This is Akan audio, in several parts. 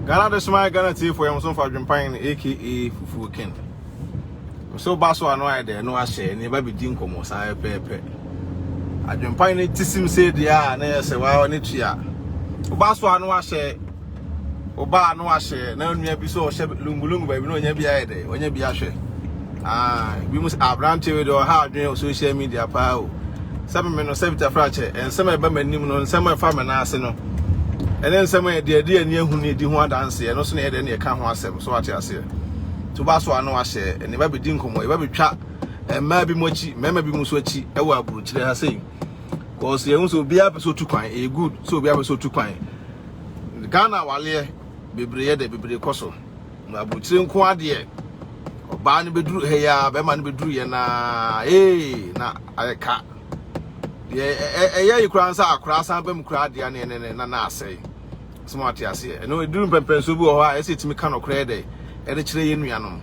Ghana de soma Ghana tiefo yɛn so mfa dwempan no aka fufuo ken. So ba so ano ayɛ dɛ no ahyɛ ne ba bi di nkɔmɔ saa yɛ pɛɛpɛ. Adwempan no ti sim sɛ deɛ a na yɛ sɛ waa ne tua. Oba so ano ahyɛ oba ano ahyɛ na onua bi so ɔhyɛ lungulungu baabi na onya bi ayɛ dɛ onya bi ahwɛ. Ah, bi mu aberante wei de ɔha adwene wɔ social media paa o. Sɛ me no sɛ Vita Frakyɛ, nsɛm a ɛba m'anim no, nsɛm a ɛfa me nan ase no, ɛne nsɛm a ɛde adi ani ahu ne ɛdi ho adanseɛ, ɛno so na ɛyɛ dɛ ne ɛka ho asɛm, so wate aseɛ. To ba so a na wahyɛ, ɛne ba bɛdi nkɔmmɔ, ɛba bɛtwa mmaa bi mu akyi, mmarima bi mu so akyi, ɛwɔ aburukyerɛ ha sei. Kɔɔso yɛhu sɛ obiara pɛ sɛ otu kwan, ɛyɛ good sɛ obiara pɛ sɛ otu kwan. Ghana awaleɛ bebree yɛ dɛ, bebree kɔ so. Na aburukyire nko adeɛ ɔbaa no bɛduru ha yi a bɛrima no bɛduru yɛ naa ee na ayɛ ka deɛ ɛyɛ yi koraa nsa akoraa san bɛm koraa deɛ ne ne ne na na asɛe sɛ mo ate aseɛ ɛno ɛduru mpɛmpɛnsoɔ bi wɔ hɔ a ɛsɛ ɛtumi ka nɔkorɛ dɛ ɛde kyerɛ yɛ nuanom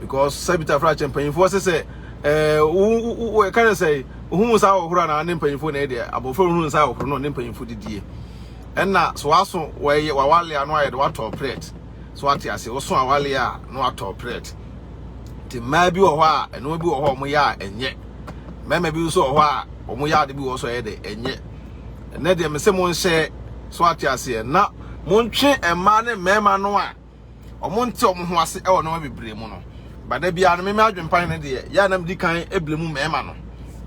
because sɛ bitafra akyɛ mpanyinfoɔ sɛ sɛ ɛɛ wo wo ɛka ne sɛ ohun nsa ahohoro a na ne mpanyinfoɔ na ɛdeɛ abɔfra ohun nsa ahohoro na ɔne mpanyinfoɔ didie ɛna so aso wɔyɛ wawale ano ayɛ de watɔ plate So wate ase? Woso awale a na watɔ prɛt. Nti mmaa bi wɔ hɔ a nneɛma bi wɔ hɔ a wɔyɛ a ɛnyɛ. Mmarima bi nso wɔ hɔ a wɔn yɛ ade bi wɔ so ɛyɛ dɛ ɛnyɛ. Ɛnɛ deɛ mesɛ mo nhyɛ so ate aseɛ na montwe mmaa ne mmarima no a wɔn nte wɔn ho ase ɛwɔ nneɛma bebree mu no. But da biara no me me adwempan no deɛ yɛ a na medi kan ebile mu mmarima no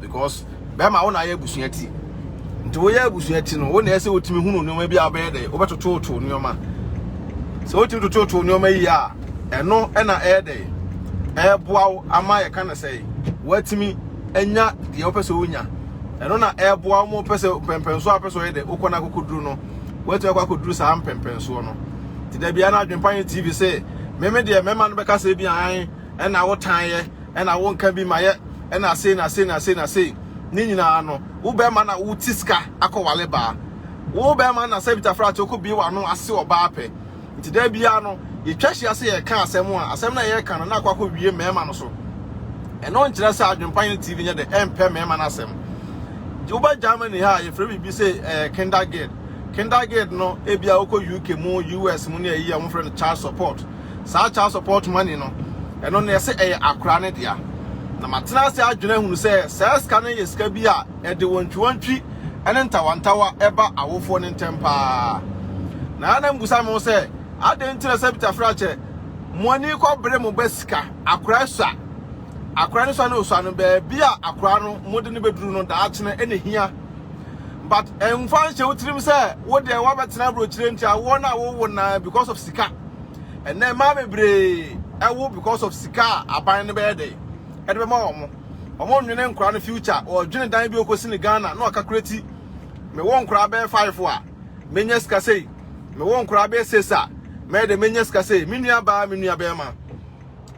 because bɛrima wo na ayɛ abusua ti nti woyɛ abusua ti no wo na ɛsɛ wotumi hunu nneɛma bi a wobɛyɛ dɛ wobɛtototo nneɛma sɛ wotumi tototo nneɛma yi a ɛno ɛna ɛyɛ dɛ ɛɛboa wo ama yɛka no sɛ woatumi anya deɛ wopɛ sɛ wonya ɛno na ɛɛboa wo ma wopɛ sɛ pɛmpɛnso a wopɛ sɛ ɔyɛ dɛ wokɔ no akokoduro no Woatumi akɔ akɔduru saa mpɛmpɛnsoɔ no. Nti da biara no adwempa yɛ TV sɛ meme deɛ mɛma no bɛka sɛ bi an ɛna wotaeɛ ɛna wonka bi ma yɛ ɛna sei na sei na sei na sei ne nyinaa no wo bɛrima na woti sika akɔwale baa wo bɛrima na sɛ bitafra te wokɔbie w'ano ase ɔbaa pɛ Nti da biara no, yɛtwa hyia sɛ yɛreka asɛm a, asɛm no a yɛreka no na akɔ akɔwie mmarima no so. Ɛno nkyerɛ sɛ Adwempa Hene TV nyɛ dɛ ɛmpɛ mmarima no asɛm. Woba Germany ha a, yɛfrɛ biribi sɛ eh, Kindergeld. Kindergeld no, ebia wokɔ UK mu, US mu ne ayi a wɔfrɛ no child support. Saa child support money no, ɛno no yɛsɛ ɛyɛ akora no dea. Na matena ase adwene ahunu sɛ saa sika no yɛ sika bi a, Ɛde wantwiwantwi ne ntawantawa ba awofoɔ no ntam pa ara. Na Hana mmisa me ho sɛ, Adɛn nti na Sabita frɛ akyɛ? Mo ani kɔbere mo ba sika, akora asua. Akora no sua na ɔsua no, baabi a akora no mode no bɛduru no daakyene na ɛhia. But ɛmfa nhyɛ wo tirim sɛ wo deɛ woabɛtena aburokyire nti awoɔ no a wowo no ara because of sika. Ɛnnɛ mmaa bebree wo because of sika a aban no bɛyɛ dɛn? Ɛde bɛma wɔn. Ɔmo nnwene nkora no future ɔɔdwene dan bi ɔɔkɔsi no Ghana na ɔkakora ti Mewo nkora bɛyɛ five a mɛnya sika sei Mewo nkora bɛyɛ six a mɛyɛ dɛ mɛnya sika sei Me nua baa me nua bɛɛma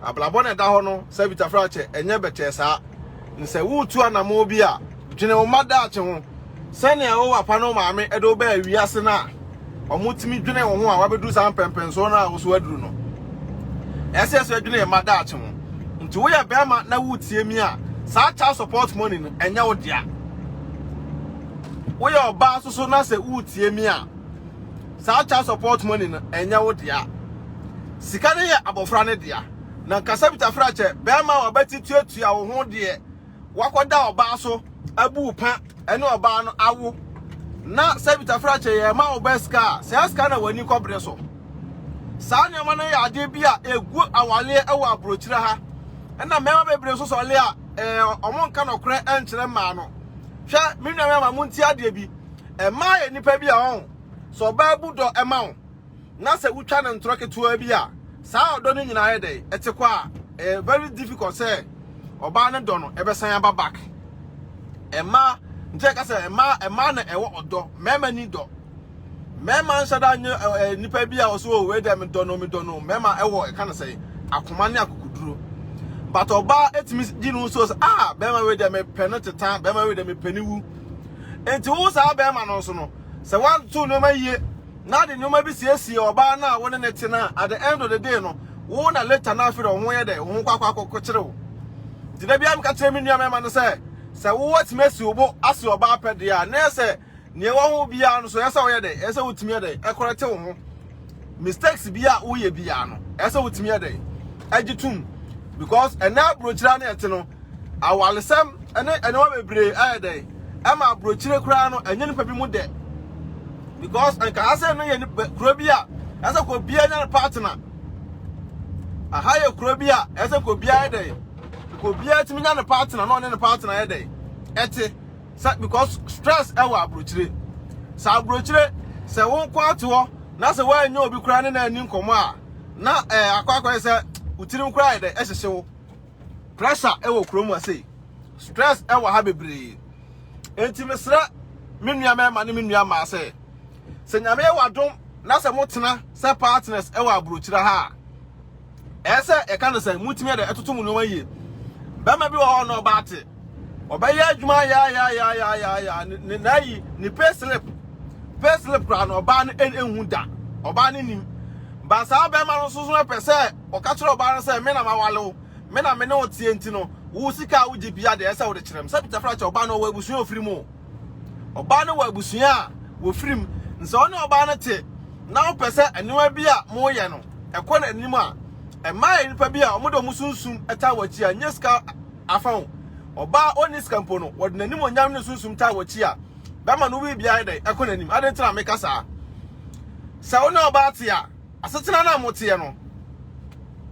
Abrabɔ na ɛda hɔ no Savita Fraakyɛ ɛnyɛ bɛtɛɛ saa Nsɛ wootu anamoo bi a Dwene wo mma daakye ho. Sɛnea Yehowa pa ne wo maame de wo baa wiase no a, wɔtumi dwenee wo ho a woabedu saa mpɛnpɛnsoɔ no a wo so aduru no. Ɛsɛ sɛ yɛsɛ dwene yɛn mma daakye ho. Nti woyɛ barima na woretie mi a, saa child support money no, ɛnyɛ wo dea. Woyɛ ɔbaa nso so na sɛ woretie mi a, saa child support money no, ɛnyɛ wo dea. Sika no yɛ abɔfra no dea. Na nkasabitafrakyɛ, barima a wabati tuatua wo ho deɛ, wakɔda ɔbaa so abu wo pɛ ne ɔbaa no awo na sɛ bitafrakyɛ yɛ ma wo bɛ sika a saa sika na w'ani kɔbrɛ so saa nneɛma no yɛ adeɛ bi a ɛgu awaleɛ wɔ aburokyerɛ ha ɛna mmarima bebree nso sɔle a wɔn nka nɔkorɛ nkyerɛ mmaa no hwɛ me nua mmarima mo nti adeɛ bi mmaa yɛ nnipa bi a wɔn sɛ ɔbaa bu dɔ ma wo na sɛ wotwa no ntorɔ ketewa bi a, saa ɔdɔ no nyinaa yɛ dɛn? Ɛte kɔ a, ɛyɛ very difficult sɛ ɔbaa no dɔ no ɛbɛsan aba back. Ɛmaa nkyɛn ka sɛ ɛmaa ɛmaa na ɛwɔ ɔdɔ, mmarima ni dɔ. Mmarima nhyɛ da nye ɛɛ nipa bi a ɔsɛ o wei dɛ medɔ no medɔ no mmarima ɛwɔ ɛka no sɛ akoma ne akokoduro. But ɔbaa etumi gye no so sɛ ah bɛrima wei dɛ mepɛ no teta bɛrima wei dɛ mepɛ ne wu. Nti wo saa bɛrima no nso no sɛ wanto nneɛma yie na de nneɛma bi siesie ɔbaa no a wo ne no te no a, at the end of the day no, wo na later no afei de wo ho yɛ dɛ, wo ho kɔ akɔkyere wo. Nti da biara meka kyerɛ me nua mmarima no sɛ, sɛ wowatumi asi wo bo ase ɔbaa pɛ deɛ a, na ɛyɛ sɛ nea ɛwɔ ho biara no so ɛyɛ sɛ woyɛ dɛ, ɛyɛ sɛ wotumi yɛ dɛ, ɛkɔrɛte wo ho. Mistakes bi a woyɛ biara no, ɛyɛ sɛ wotumi yɛ dɛ, ɛgye tom. Because ɛnɛ aburokyire a na ɛte no, Awaresɛm ne nneɛma bebree ayɛ dɛn ɛma aburokyire koraa no ɛnyɛ nipa bi mu dɛ because nka ha sɛ no yɛ kuro bi a ɛsɛ kɔ bia nya ne partner aha yɛ kuro bi a ɛsɛ kɔ bia yɛ dɛn kɔ bia tumi nya ne partner na ɔne ne partner yɛ dɛn ɛte sɛ because stress ɛwɔ aburokyire sɛ aburokyire sɛ wo nko ato hɔ na sɛ woanyɛ obi koraa ne na ani nkɔmɔ a na ɛɛ akɔ akɔyɛ sɛ wotirim koraa yɛ dɛn ɛhyehye wo Pressure wɔ kurom ha sei. Stress wɔ ha bebree. Enti mesrɛ me nua mmarima ne me nua mmaa sɛ, sɛ Nyame yɛ w'adom na sɛ motena sɛ partners wɔ aburokyire ha a, ɛyɛ sɛ yɛka no sɛ motumi de ɛtoto mo nneɛma yie. Bɛrima bi wɔ hɔ a ɔne ɔbaa te. Ɔbɛyɛ adwuma yayayayayaya ne na ayi ne pay slip pay slip koraa no ɔbaa no ehu da ɔbaa no nim ba saa bɛrima no nso so ɛpɛ sɛ ɔka kyerɛ ɔbaa no sɛ me na ma wale wo me na me ne wo tie nti no wo sika a wogye bia deɛ ɛsɛ wode kyerɛ m sɛ bitafra kyɛ ɔbaa no ɔwɔ abusua ofiri mu ɔbaa no wɔ abusua a wɔfiri mu nsɛ wo ne ɔbaa no te na wopɛ sɛ nneɛma bi a moyɛ no ɛkɔ n'anim a ɛma nnipa bi a wɔde wɔn sunsum ɛta wɔ akyi a nyɛ sika afa ho. Ɔbaa a onni sika mpo no, wɔde n'animuonyam ne sunsum taa w'akyi a, bɛma no biribiara ayɛ dɛn? Ɛkɔ n'anim. Adɛn nti na meka saa? Sɛ wo ne ɔbaa te a, asetena no a moteɛ no,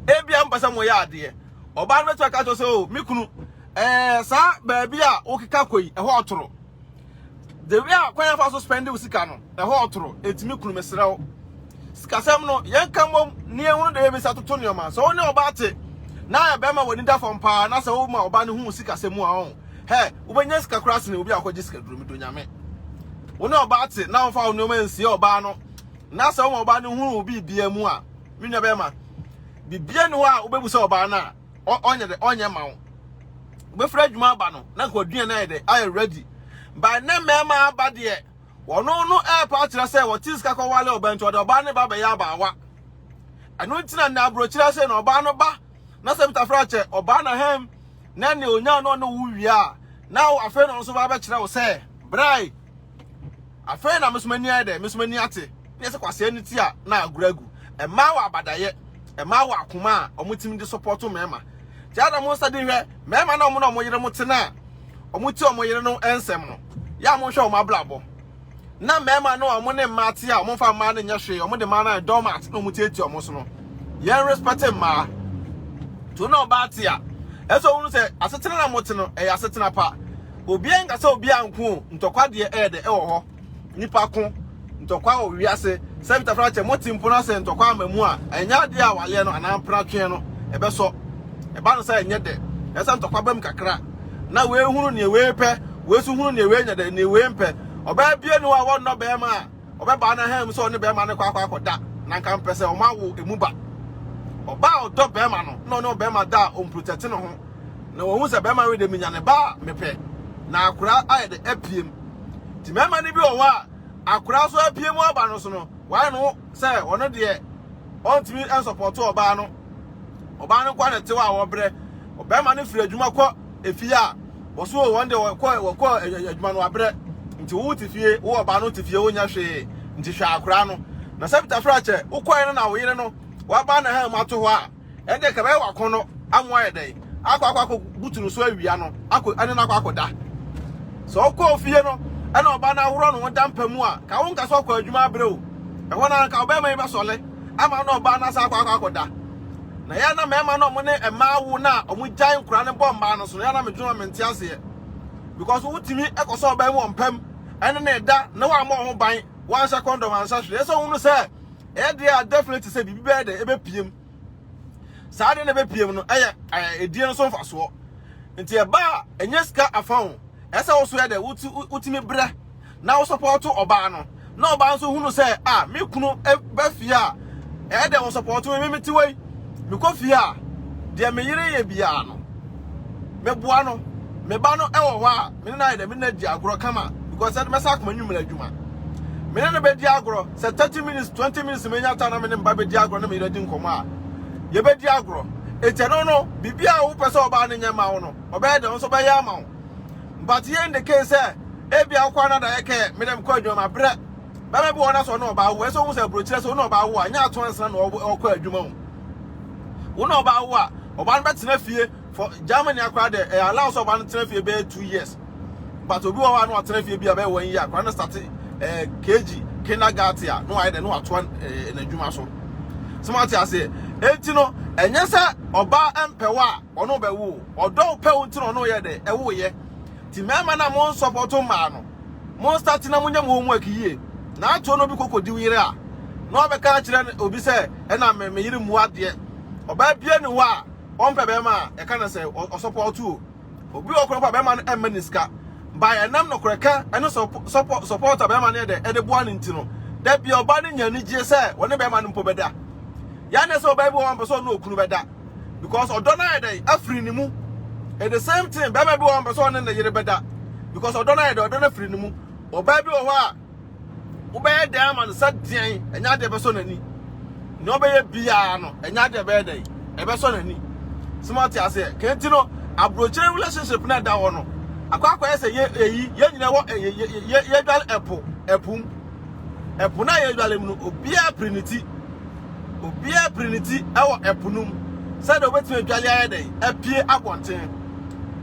ebia mpɛ sɛ moyɛ adeɛ. Ɔbaa no bɛtumi aka kyerɛ sɛ, o, me kunu, ɛɛ, saa baabi a wokeka kɔ yi, ɛhɔ ɔtoro. The way a kwan afa so spend wo sika no, ɛhɔ ɔtoro, etumi kunu mesrɛ wo. Sikasɛm no, yɛnka mmom ne yɛhunu dɛ yɛbɛsa toto nneɛma. Sɛ wo ne ɔbaa te na ayɛ bɛrima w'ani da fam paa na sɛ woma ɔbaa no hu sikasɛm mu a ɔn, hɛ, wobɛnya sika koraa sene obi a ɔkɔgye sika duro medo nyame. Wo ne ɔbaa te na womfa wo nneɛma nsie ɔbaa no na sɛ woma ɔbaa no hunu wo biribia mu a, me nua bɛrima, biribia ni hɔ a wobɛbu sɛ ɔbaa no a, ɔnyɛ dɛ ɔnyɛ ma wo wobɛfiri adwuma aba no na nka waduane ayɛ dɛ ayɛ ready by ne mmarima aba deɛ wɔno no ɛɛpa akyerɛ sɛ wɔte sika kɔ wale ɔbɛn nti ɔde ɔbaa ne ba bɛyɛ abaawa ɛno nti na nna aburokyerɛ sɛ na ɔbaa no ba na sɛ bitafra akyɛ ɔbaa na hɛm na ne onya no ɔne wo wie a na afei na ɔno nso ba bɛkyerɛ wo sɛ brae Afei na me nso m'ani ayɛ dɛ, me nso m'ani ate. Na yɛ sɛ kwasea no ti a na agorɔ agu. Mmaa wɔ abadayɛ, mmaa wɔ akoma a wɔtumi de support mmarima. Nti ada mo nsa di hwɛ, mmarima na wɔn na wɔn yere mo te no a, wɔn ti wɔn yere no nsɛm no, yɛ a monhwɛ wɔn abrabɔ. Na mmarima no a wɔn ne mmaa te a wɔmfa mmaa no nyɛ hwee, wɔde mmaa no ayɛ doormat na wɔtiatia wɔn so no, yɛn respect mmaa. To na ɔbaa te a, ɛsɛ ɔhunu sɛ asetena na mote no, ɛyɛ asetena pa. Obiara nka sɛ obiara nko o, ntɔkwa deɛ ɛyɛ dɛ ɛwɔ hɔ. Nipa ko, ntɔkwa wɔ wiase. Sɛ Peter Franche mote mpo na sɛ ntɔkwa ama mu a, ɛnyɛ adeɛ a wayɛ no anaa mpratweɛ no ɛbɛsɔ. Ɛba no sɛ ɛnyɛ dɛ. Ɛyɛ sɛ ntɔkwa ba mu kakra na wei hunu neɛ wei pɛ, wei nso hunu neɛ wei nyɛ dɛ, neɛ wei mpɛ. Ɔbaa biara nni hɔ a wɔnnɔ barima a. Ɔbɛbaa no ahanmu sɛ ɔne bɛrima no kɔ akɔ akɔda, na anka mpɛ sɛ wɔawo emu ba. Ɔbaa a ɔdɔ bɛrima no na ɔne ɔbɛrima da a ɔmprotɛte ne ho, na wahu sɛ bɛrima wei deɛ menya ne ba a mepɛ, na akora ayɛ dɛ apiem. Nti mmarima no bi wɔ hɔ a akora nso apiem aba no so no, wɔayɛ ne ho sɛ ɔno deɛ ɔntumi nsɔpɔto ɔbaa no. Ɔbaa no nkoa na ɛte hɔ a wɔbrɛ. Ɔbɛrima no firi adwuma kɔ efie a, Wɔso o, wɔn de wɔkɔ wɔkɔ adwuma no abrɛ. Nti wo te fie, wo ɔbaa no te fie, wonyɛ hwee. Nti hwɛ akora no. Na sɛ Peter fira kyɛ, wokɔɛ no na wo yere no, waba na ha mu ato hɔ a, ɛnde ɛka bɛyɛ wakɔn no amu ayɛ dɛn? Akɔ akɔ akɔ butu no so awia no, akɔ ɛne no akɔ akɔ da. Sɛ ɔkɔ ofie no, ɛna ɔbaa no ahorɔ no ho da mpa mu a, ka wo nka sɛ ɔkɔ adwuma abrɛ o. Ɛhɔ no anka ɔbɛma yi bɛsɔle ama no ɔbaa no asa akɔ akɔ akɔ da. Na yɛ na mmarima no ɔmo ne mmaa wo na ɔmo gyae nkora no bɔ mmaa no so no yɛ na medwene ma mente aseɛ because wotumi ɛkɔsɔ ɔbaa mu wɔ mpam ɛne ne da na wamma ɔho ban wanhyɛ kɔndɔm anhyɛ hwee ɛsɛ ɔhunu sɛ ɛyɛ deɛ a definitely sɛ biribi bɛyɛ dɛ ɛbɛpiem saa deɛ na ɛbɛpiem no ɛyɛ ɛdie no so mfasoɔ nti ɛba a ɛnyɛ sika afa ho ɛsɛ wo so yɛ dɛ wotumi brɛ na wo sɔpɔɔto ɔbaa no na ɔbaa nso hunu sɛ a ah, me kunu ba fie a ɛyɛ dɛ wo sɔpɔɔto me mete wei mekɔ fie a deɛ me yere yɛ biara no meboa no me ba no ɛwɔ hɔ a mene no ayɛ dɛ mene no adi agorɔ kama because ɛde mɛsa akoma nwummerɛ adwuma mene no bɛdi agorɔ sɛ 30 minutes 20 minutes menya ta na mene mba bɛdi agorɔ na me yere di nkɔmmɔ a yɛbɛdi agorɔ ɛti ɛno no biribi a wopɛ sɛ ɔbaa no nyɛ ma wo no ɔbɛyɛ dɛ wo nso bɛyɛ ama wo But yei ne case sɛ ebia wokɔ a na adayɛ kɛ mede mekɔ adwuma mabrɛ. Bɛma bi wɔ hɔ na sɛ ɔne ɔbaa wo, ɛsɛ ɔhu sɛ aburokyerɛ sɛ wo ne ɔbaa wo a, nyɛ ato ansena na ɔkɔ adwuma o. Wo ne ɔbaa wo a, ɔbaa no bɛtena fie for Germany akora de ɛyɛ allow sɛ ɔbaa no tena fie bɛyɛ two years. But obi wɔ hɔ a na ɔtena fie bi a bɛyɛ one year akora no start eh, KG kindergarten a na wayɛ dɛ na watoa eh, n'adwuma so. Sɛ mo ate aseɛ, enti no ɛnyɛ sɛ ɔbaa mpɛ wo a ɔno bɛ wo ɔdɔ wo pɛ wo nti na ɔno yɛ dɛ ɛwo yɛ ti mɛma na mo nsɔpɔto mmaa no mo nsati na mo nyɛ mo ho mu akiyie na ato no bi koko di yere a na ɔbɛ ka kyerɛ obi sɛ ɛna me me yere mu adeɛ ɔbaa bie ne hɔ a ɔmpɛ bɛma a ɛka na sɛ ɔsɔpɔto o obi wɔ koro pa bɛma no ɛmma ne sika ba ɛnam no korɛ ka ɛne sɔpɔ sɔpɔto bɛma no yɛ dɛ ɛde boa ne nti no dɛ bia ɔbaa no nya anigyeɛ sɛ wɔne bɛma no mpo bɛda yɛ anɛ sɛ ɔbaa bi wɔ wɔn pɛ sɛ ɔne okunu bɛda because ɔdɔ no ayɛ dɛn afiri ne mu and the same thing bɛrima bi wɔ hɔ mpɛ sɛ ɔne ne yere bɛda because ɔdɔ no ayɛ dɛn ɔdɔ no afiri ne mu ɔbaa bi wɔ hɔ a wobɛyɛ dɛn ama no sɛ deɛn ɛnyɛ adeɛ bɛsɔ n'ani na ɔbɛyɛ biara no ɛnyɛ adeɛ bɛyɛ dɛn ɛbɛsɔ n'ani sɛ mo ate aseɛ kɛnti no aburokyire relationship na ɛda hɔ no akɔ akɔyɛ sɛ yɛ eyi yɛ nyina wɔ yɛ yɛ yɛ yɛ dwale ɛpo ɛpum. Ɛpo no a yɛdware mu no, obiara piri ne ti. Obiara piri ne ti wɔ ɛpo no mu sɛdeɛ ɔbɛtumi adware ayɛ dɛn? Apue abɔnten.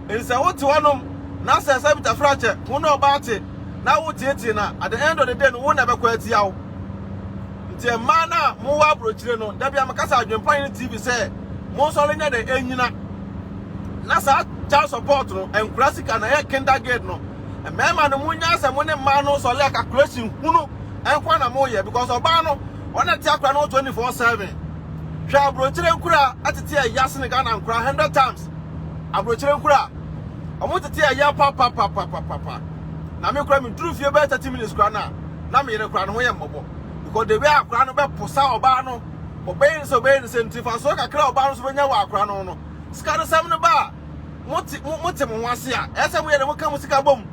Enti sɛ wote hɔnom na sɛ sɛ Bitafrakyɛ wo ne ɔbaa te na woteetee no a, at the end of the day no, wo na ɛbɛkɔ atia wo. Nti mmaa no a mowɔ aburokyire no, da biara meka sɛ Adwempa ne TV sɛ monsɔre nyɛ dɛn? Nnyina. Na saa child support no, ɛnkura sika na ɛyɛ kindergarten no, Mmarima no, monyae sɛ mo ne mmaa no nsɔre a calculation hunu nko ara na moyɛ because ɔbaa no ɔna ɛte akora no ho 24/7. Hwɛ aburokyire nkura ɛtete ɛya sene Ghana nkora 100 times. Aburokyire nkura ɔmo tete ɛya papapapapapa. Na me kora me duru fie bɛyɛ 30 minutes kora na na me yere kora no ho yɛ mmɔbɔ because the way akora no bɛ posa ɔbaa no ɔbɛyɛ ne sɛ ɔbɛyɛ ne sɛ nti fasoɔ kakra ɔbaa no so bɛnya wɔ akora no no sika no sɛm no baa mote mo mote mo ho ase a ɛyɛ sɛ moyɛ dɛ moka mo sika bom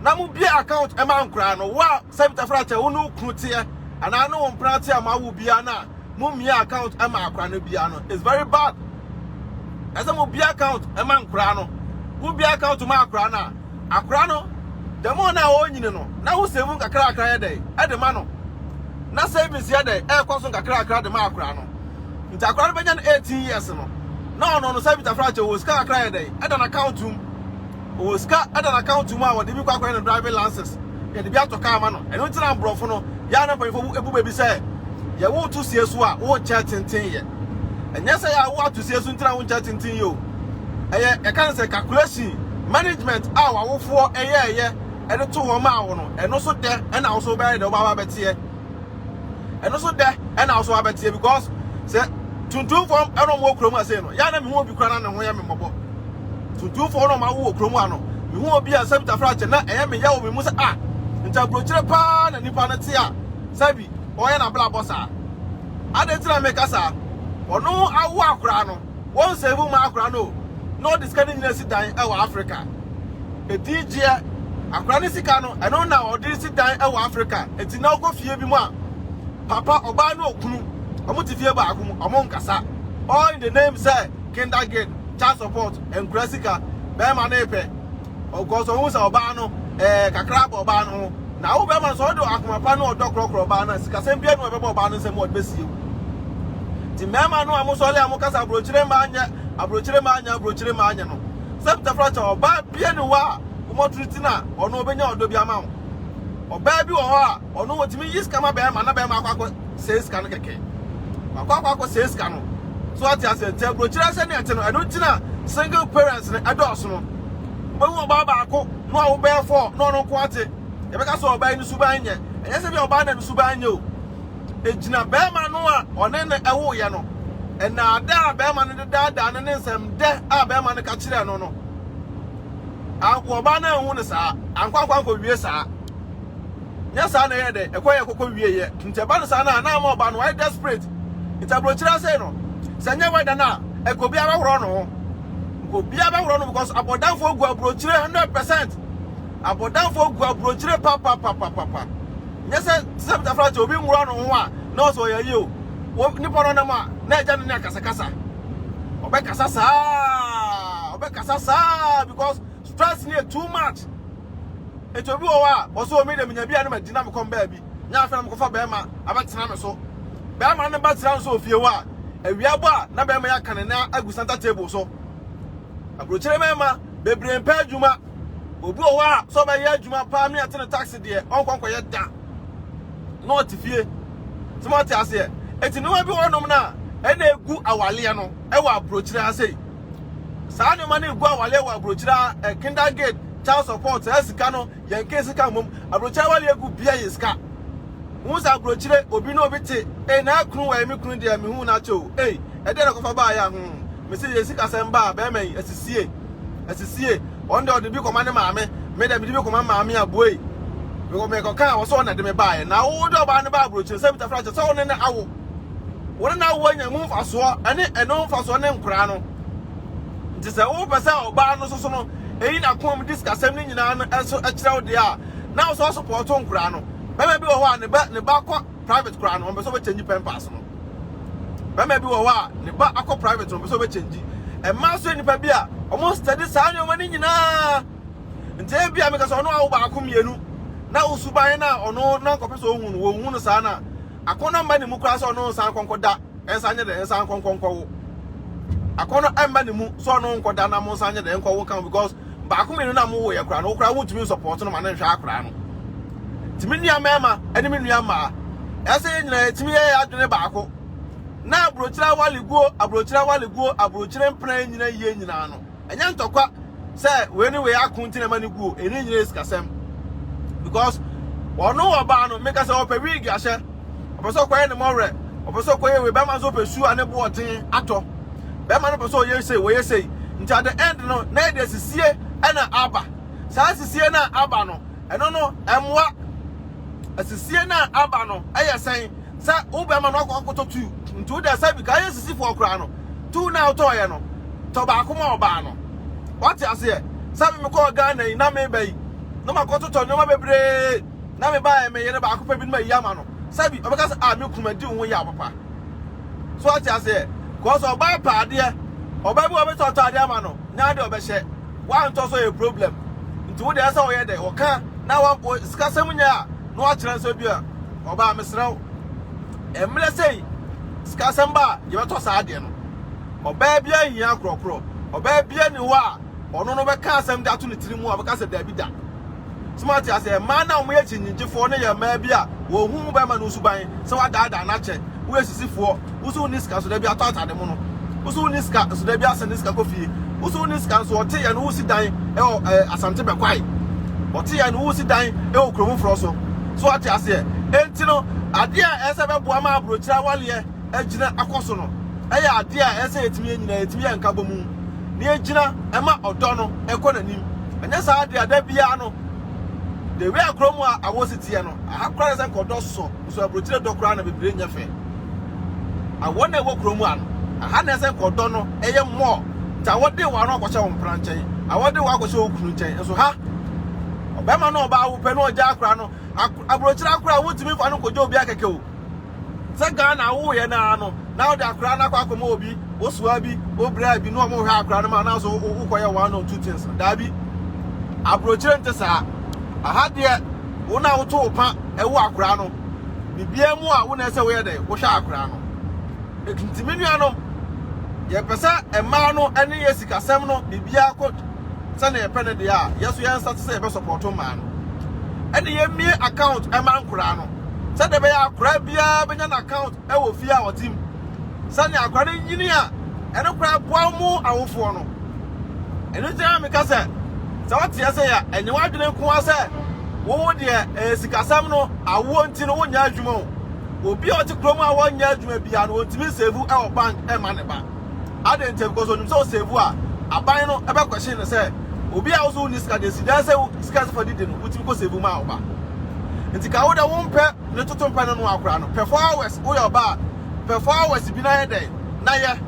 na mobie account ɛma nkoraa no wo a sɛ bitafra kyɛ wo ne wo kunu teɛ anaa ne wo mpena te a moawo biara no a mommie account ɛma akora no biara no it's very bad ɛsɛ mobie account ɛma nkoraa no wobie account ma akora no a akora no dɛmo no a ɔnyini no na wo sɛ mu nkakrakra yɛ dɛ ɛde ma no na savings yɛ dɛ ɛkɔ so nkakrakra de ma akora no Nti akora no bɛnya no eighteen years no na ɔno no Savita fra kyɛ ɔwɔ sika kakra yɛ dɛn ɛda n'account mu ɔwɔ sika ɛda n'account mu a wɔde bi kɔ akɔyɛ no driving lances yɛde bi atɔ kaa ma no ɛno nti na aborɔfo no yɛa na mpanyinfo ebu baabi sɛ yɛ wo to sie so a wo nkyɛ tenten yɛ ɛnyɛ sɛ yɛ a wo ato sie so nti na wo nkyɛ tenten yɛ o ɛyɛ yɛka ne sɛ calculation management a w'awofoɔ ɛyɛ ɛyɛ ɛde to hɔ maa wo no ɛno so dɛ ɛna wo so bɛyɛ dɛ wobɛaba bɛteɛ ɛno so dɛ ɛna wo so abɛteɛ because sɛ tuntumfoɔ ɛna ɔmo wɔ kurom ase no yɛ na mehu obi kura na ne ho yɛ me mmɔbɔ tuntumfoɔ na ɔmo awo wɔ kurom a no mehu obi a sɛ mtafra akyɛ na ɛyɛ me yɛ wɔ me mu sɛ a ah, nti aburokyerɛ paa na nipa no te a sɛ bi ɔyɛ na bla bɔ saa adɛn ti na meka saa ɔno awo akoraa no Wɔn nsɛmmu mu akora no na ɔde sika no nyinaa si dan wɔ Afrika. Edin gyeɛ. Akora no sika no, ɛno na ɔde resi dan wɔ Afrika. Enti na wokɔ fie bi mu a, papa, ɔbaa ne okunu, wɔte fie baako mu, wɔnkasa. All in the name sɛ kindergarten, child support, nkora sika. Bɛrima no repɛ. Ɔkɔɔ so huu sɛ ɔbaa no ɛɛ kakra abɔ ɔbaa no ho. Na wo bɛrima nso, ɔde akoma pa ne ɔdɔ korɔkorɔ ɔbaa no a sikasɛm biara nni ho a ɛbɛba ɔbaa no nsam a ɔde bɛsie wo. Nti mmarima no a mosɔre a mokasa aburokyire mmaa nyɛ, aburokyire mmaa nyɛ, aburokyire mmaa nyɛ no, Septa fra kyɛ, ɔbaa biara nni hɔ a womɔtreati no a ɔno ɔbɛnya ɔdɔ bi ama wo. Ɔbaa bi wɔ hɔ a. Ɔno otumi yi sika ma bɛɛma na bɛɛma akɔ akɔ sɛɛ sika no kɛkɛ. Wakɔ akɔ akɔ sɛɛ sika no. So wate aseɛ? Nti aburokyerɛ sɛ nea ɛte no, ɛno nti na single parents no ɛdɔɔso no. Wobɛhu ɔbaa baako na ɔwo bɛɛ four na ɔno nko ate. Yɛbɛka sɛ ɔbaa yi ne suban nyɛ. Ɛnyɛ sɛ bi a ɔbaa na ne suban nyɛ o. Egyina bɛɛma no a ɔne no ɛwoeɛ no, nnaadaa a bɛɛma no de daadaa no ne nsɛmdɛ a bɛɛma no ka kyerɛɛ no no. Anko ɔbaa no anhu no saa. Anko ankɔ ankɔ wie saa. nyɛ saa na ɛyɛ dɛ ɛkɔ yɛ kɔkɔ wie yɛ nti ɛba no saa no a na ama ɔba no wayɛ desperate nti abrokyire asɛe no sɛ nyɛ wɛda no a ɛka obiara bɛhorɔ no ho nka obiara bɛhorɔ no because abɔdanfoɔ gu abrokyire 100 percent abɔdanfoɔ gu abrokyire papapapapa nyɛ sɛ sɛ bitafra sɛ obi nwura no ho a na ɔsɛ ɔyɛ yie o nipa no nam a na ɛgya no ne akasakasa ɔbɛkasa saa ɔbɛkasa saa because Stress no yɛ too much. Enti obi wɔ hɔ a, ɔse o me deɛ menya bi a na magyina me kɔm baabi. Nyɛ afei na mekɔfa bɛrima abɛtena me so. Bɛrima no ba tena no so wɔ fie hɔ a, awia bɔ a na bɛrima yi aka ne nan agu center table so. Aburokyire mmarima bebree mpɛ adwuma. Obi wɔ hɔ a, sɛ ɔbɛyɛ adwuma paa me ate no taxi deɛ, ɔnkɔ nkɔyɛ da. Na ɔte fie. Sɛ moate aseɛ? Enti nneɛma bi wɔ hɔnom no a, ɛna egu awaleɛ no wɔ aburokyire ha sei. saa nneɛma no gu awale wɔ aburokyire a eh, kindergate child support saa sika no yɛn ke sika mmom aburokyire awale egu bia yɛ sika hu sɛ aburokyire obi na obi te eh na kunu wɔ ɛmi kunu deɛ mehu na akyɛ o eh ɛdeɛ na kɔfa baa yɛ ho mesi yɛ sika sɛm baa bɛrima yi asisie asisie wɔn deɛ ɔde bi kɔma ne maame me deɛ mede bi kɔma maame aboe mekɔ mekɔ kan a wɔsɛ wɔn na de me baa yɛ na wo de ɔbaa no baa aburokyire sɛ bitafra kyɛ sɛ wɔn ne awo wɔn na wɔnya mu mfasoɔ ne ɛno mfasoɔ ne nkoraa no nti sɛ wopɛ sɛ ɔbaa no soso no ɛyi n'akomam di sikasɛm no nyinaa no nso kyerɛ wo deɛ a na ɔsɔ sopɔɔto nkoraa no bɛma bi wɔ hɔ a ne ba ne ba kɔ private koraa no ɔmpɛ sɛ wɔbɛkyɛngyi pɛmpaas no bɛma bi wɔ hɔ a ne ba akɔ private no ɔmpɛ sɛ wɔbɛkyɛngyi ɛma nso nnipa bi a wɔn study saa nneɛma no nyinaa nti ebi a meka sɛ ɔno a wo baako mmienu na wo suban no a ɔno na nkɔpɛ sɛ ɔhu no wɔhu no saa no a Akɔnnɔ mma ne mu koraa sɛ ɔno nsan nkɔnkɔda nsa nyɛ dɛn nsan nkɔnkɔ nkɔwo. Akɔnnɔ mma ne mu sɛ ɔno nkɔda na mo nsan nyɛ dɛn nkɔwo nka ho because baako mmienu na mo woyɛ koraa no wo koraa wontumi nsɔpɔɔto no ma no nhwɛ akoraa no. Nti me nua mmarima ne me nua mmaa ɛsɛ yɛn nyinaa yɛtumi yɛ yɛn adwene baako na aburokyire awaleguo aburokyire awaleguo aburokyire mpena nyina yie nyinaa no ɛnyɛ ntɔkwa sɛ wei ne wei ako nti na ɛma no guo ɛno nyinaa sikasɛm because ɔno ɔbaa no meka sɛ ɔpɛ wig ahyɛ ɔpɛ sɛ ɔkɔyɛ ne mɔwerɛ ɔpɛ sɛ ɔkɔyɛ wei bɛrima nso ɔpɛ su a ne boɔden atɔ bɛrima no pɛ sɛ ɔyɛ sei wɔyɛ sei nti at the end no na ɛde asisie ɛna aba saa asisie no a aba no ɛno no ɛmmoa asisie no a aba no ɛyɛ sɛn Sɛ wo bɛrima no akɔtɔ tuu nti wo deɛ sɛ bi ka yɛ sisifoɔ koraa no tuu no a wotɔɔyɛ no tɔ baako ma ɔbaa no wate aseɛ sɛ me mekɔɔ Ghana yi na meba yi na makɔtotɔ nneɛma bebree na mebaeɛ me yere baako pɛ bi no mayi ama no sɛ bi ɔbɛka sɛ a me ku madi wo ho yaw papa so wate aseɛ kɔsɛ ɔbaa pɛ adeɛ ɔbaa bi ɔbɛtɔ ɔtɔ adeɛ ama no na adeɛ ɔbɛhyɛ wantɔ so yɛ problem nti wo deɛ sɛ ɔyɛ dɛ ɔka na wa sikasɛm nyɛ a na wakyerɛ nsɛ bi a Ɔbaa mesrɛ wo mmerɛ sei sikasɛm ba a yɛbɛtɔ saa adeɛ no. Ɔbaa biara nhia akorɔkorɔ. Ɔbaa biara nni hɔ a ɔno no bɛka asɛm de ato ne tiri mu a ɔbɛka sɛ daabi da. So moate aseɛ? Mmaa no a wɔyɛ kyinnyigyefoɔ no yɛ mmaa bi a wɔhu bɛrima no suban sɛ wadaadaa no akyɛ. wo yɛ sisi foɔ wo so wo ni sika nso dabi atɔ atade mu no wo so wo ni sika nso dabi asɛ ne sika kɔ fie wo so wo ni sika nso ɔte yɛ no wo si dan ɛwɔ ɛɛ eh, asante bɛkwae ɔte yɛ no wo si dan ɛwɔ kurom forɔ so so ate aseɛ enti no adeɛ a ɛsɛ bɛboa ma aburokyire awaleɛ agyina akɔ so no ɛyɛ adeɛ a ɛsɛ yɛtumi yɛ nyinaa yɛtumi yɛ nkabɔ mu na yɛgyina ɛma ɔdɔ no ɛkɔ n'anim ɛnyɛ saa adeɛ a da biara no de wei akoro mu a awɔ si teɛ no aha koraa sɛ nkɔdɔ sɔ So aburokyire dɔ koraa na bebree nyɛ fɛ a wɔn a ɛwɔ kuro mu a no aha na ɛsɛ kɔ dɔ no ɛyɛ more ta wɔde wɔ ano akɔhyɛ wo mpena nkyɛn a wɔde wɔ akɔhyɛ wo kunu nkyɛn nso ha ɔbɛma no ɔbaa wo pɛ no ɔgya akora no aburokyire akora wotumi fa no kɔgya obi akɛkɛ o sɛ gaa na awo yɛ naa no na ɔde akora no akɔ akɔma obi wosoa bi wobraa bi na ɔmo hwɛ akora no ma na so wokɔyɛ one or two things daabi aburokyire nte saa aha deɛ Wo na woto wo pa wo akoraa no biribiaa mu a wo na ɛsɛ woyɛ dɛn wohwɛ akoraa no nti me nuanom yɛ pɛ sɛ mmaa no ɛne yɛ sikasɛm no biribiaa kɔ sɛnea yɛpɛ no deɛ a yɛ so yɛn nsa te sɛ yɛbɛ sɔpɔto mmaa no ɛne yɛmmie account ɛma nkoraa no sɛdeɛ bɛyɛ akoraa biaa bɛnya no account wɔ fie a ɔte mu. Sɛnea akwadaa no nyini a ɛno koraa boa wɔn awofoɔ no. Ɛno nti na meka sɛ, sɛ wote ase yɛ a, ɛnyɛ w'adwene nko ara sɛ wo deɛ ɛyɛ sikasɛm no, awoɔ nti no wonyɛ adwuma o. Obi a ɔte kurom a wɔnyɛ adwuma biara no, ɔntumi nsevu wɔ bank mma ne ba. Adɛn nti? Because onim sɛ ɔsevu a, aban no bɛkwɛhyen no sɛ, obi a wo so wonni sika deɛ, si dan sɛ sika a ɛsɛ fa didi no, wotumi kɔsevu maa wo ba. Nti ka wo deɛ wompɛ. Ne toto mpɛ no noa koraa no pɛfour hours woyɛ ɔbaa pɛfour hours bi no ayɛ dɛn na yɛ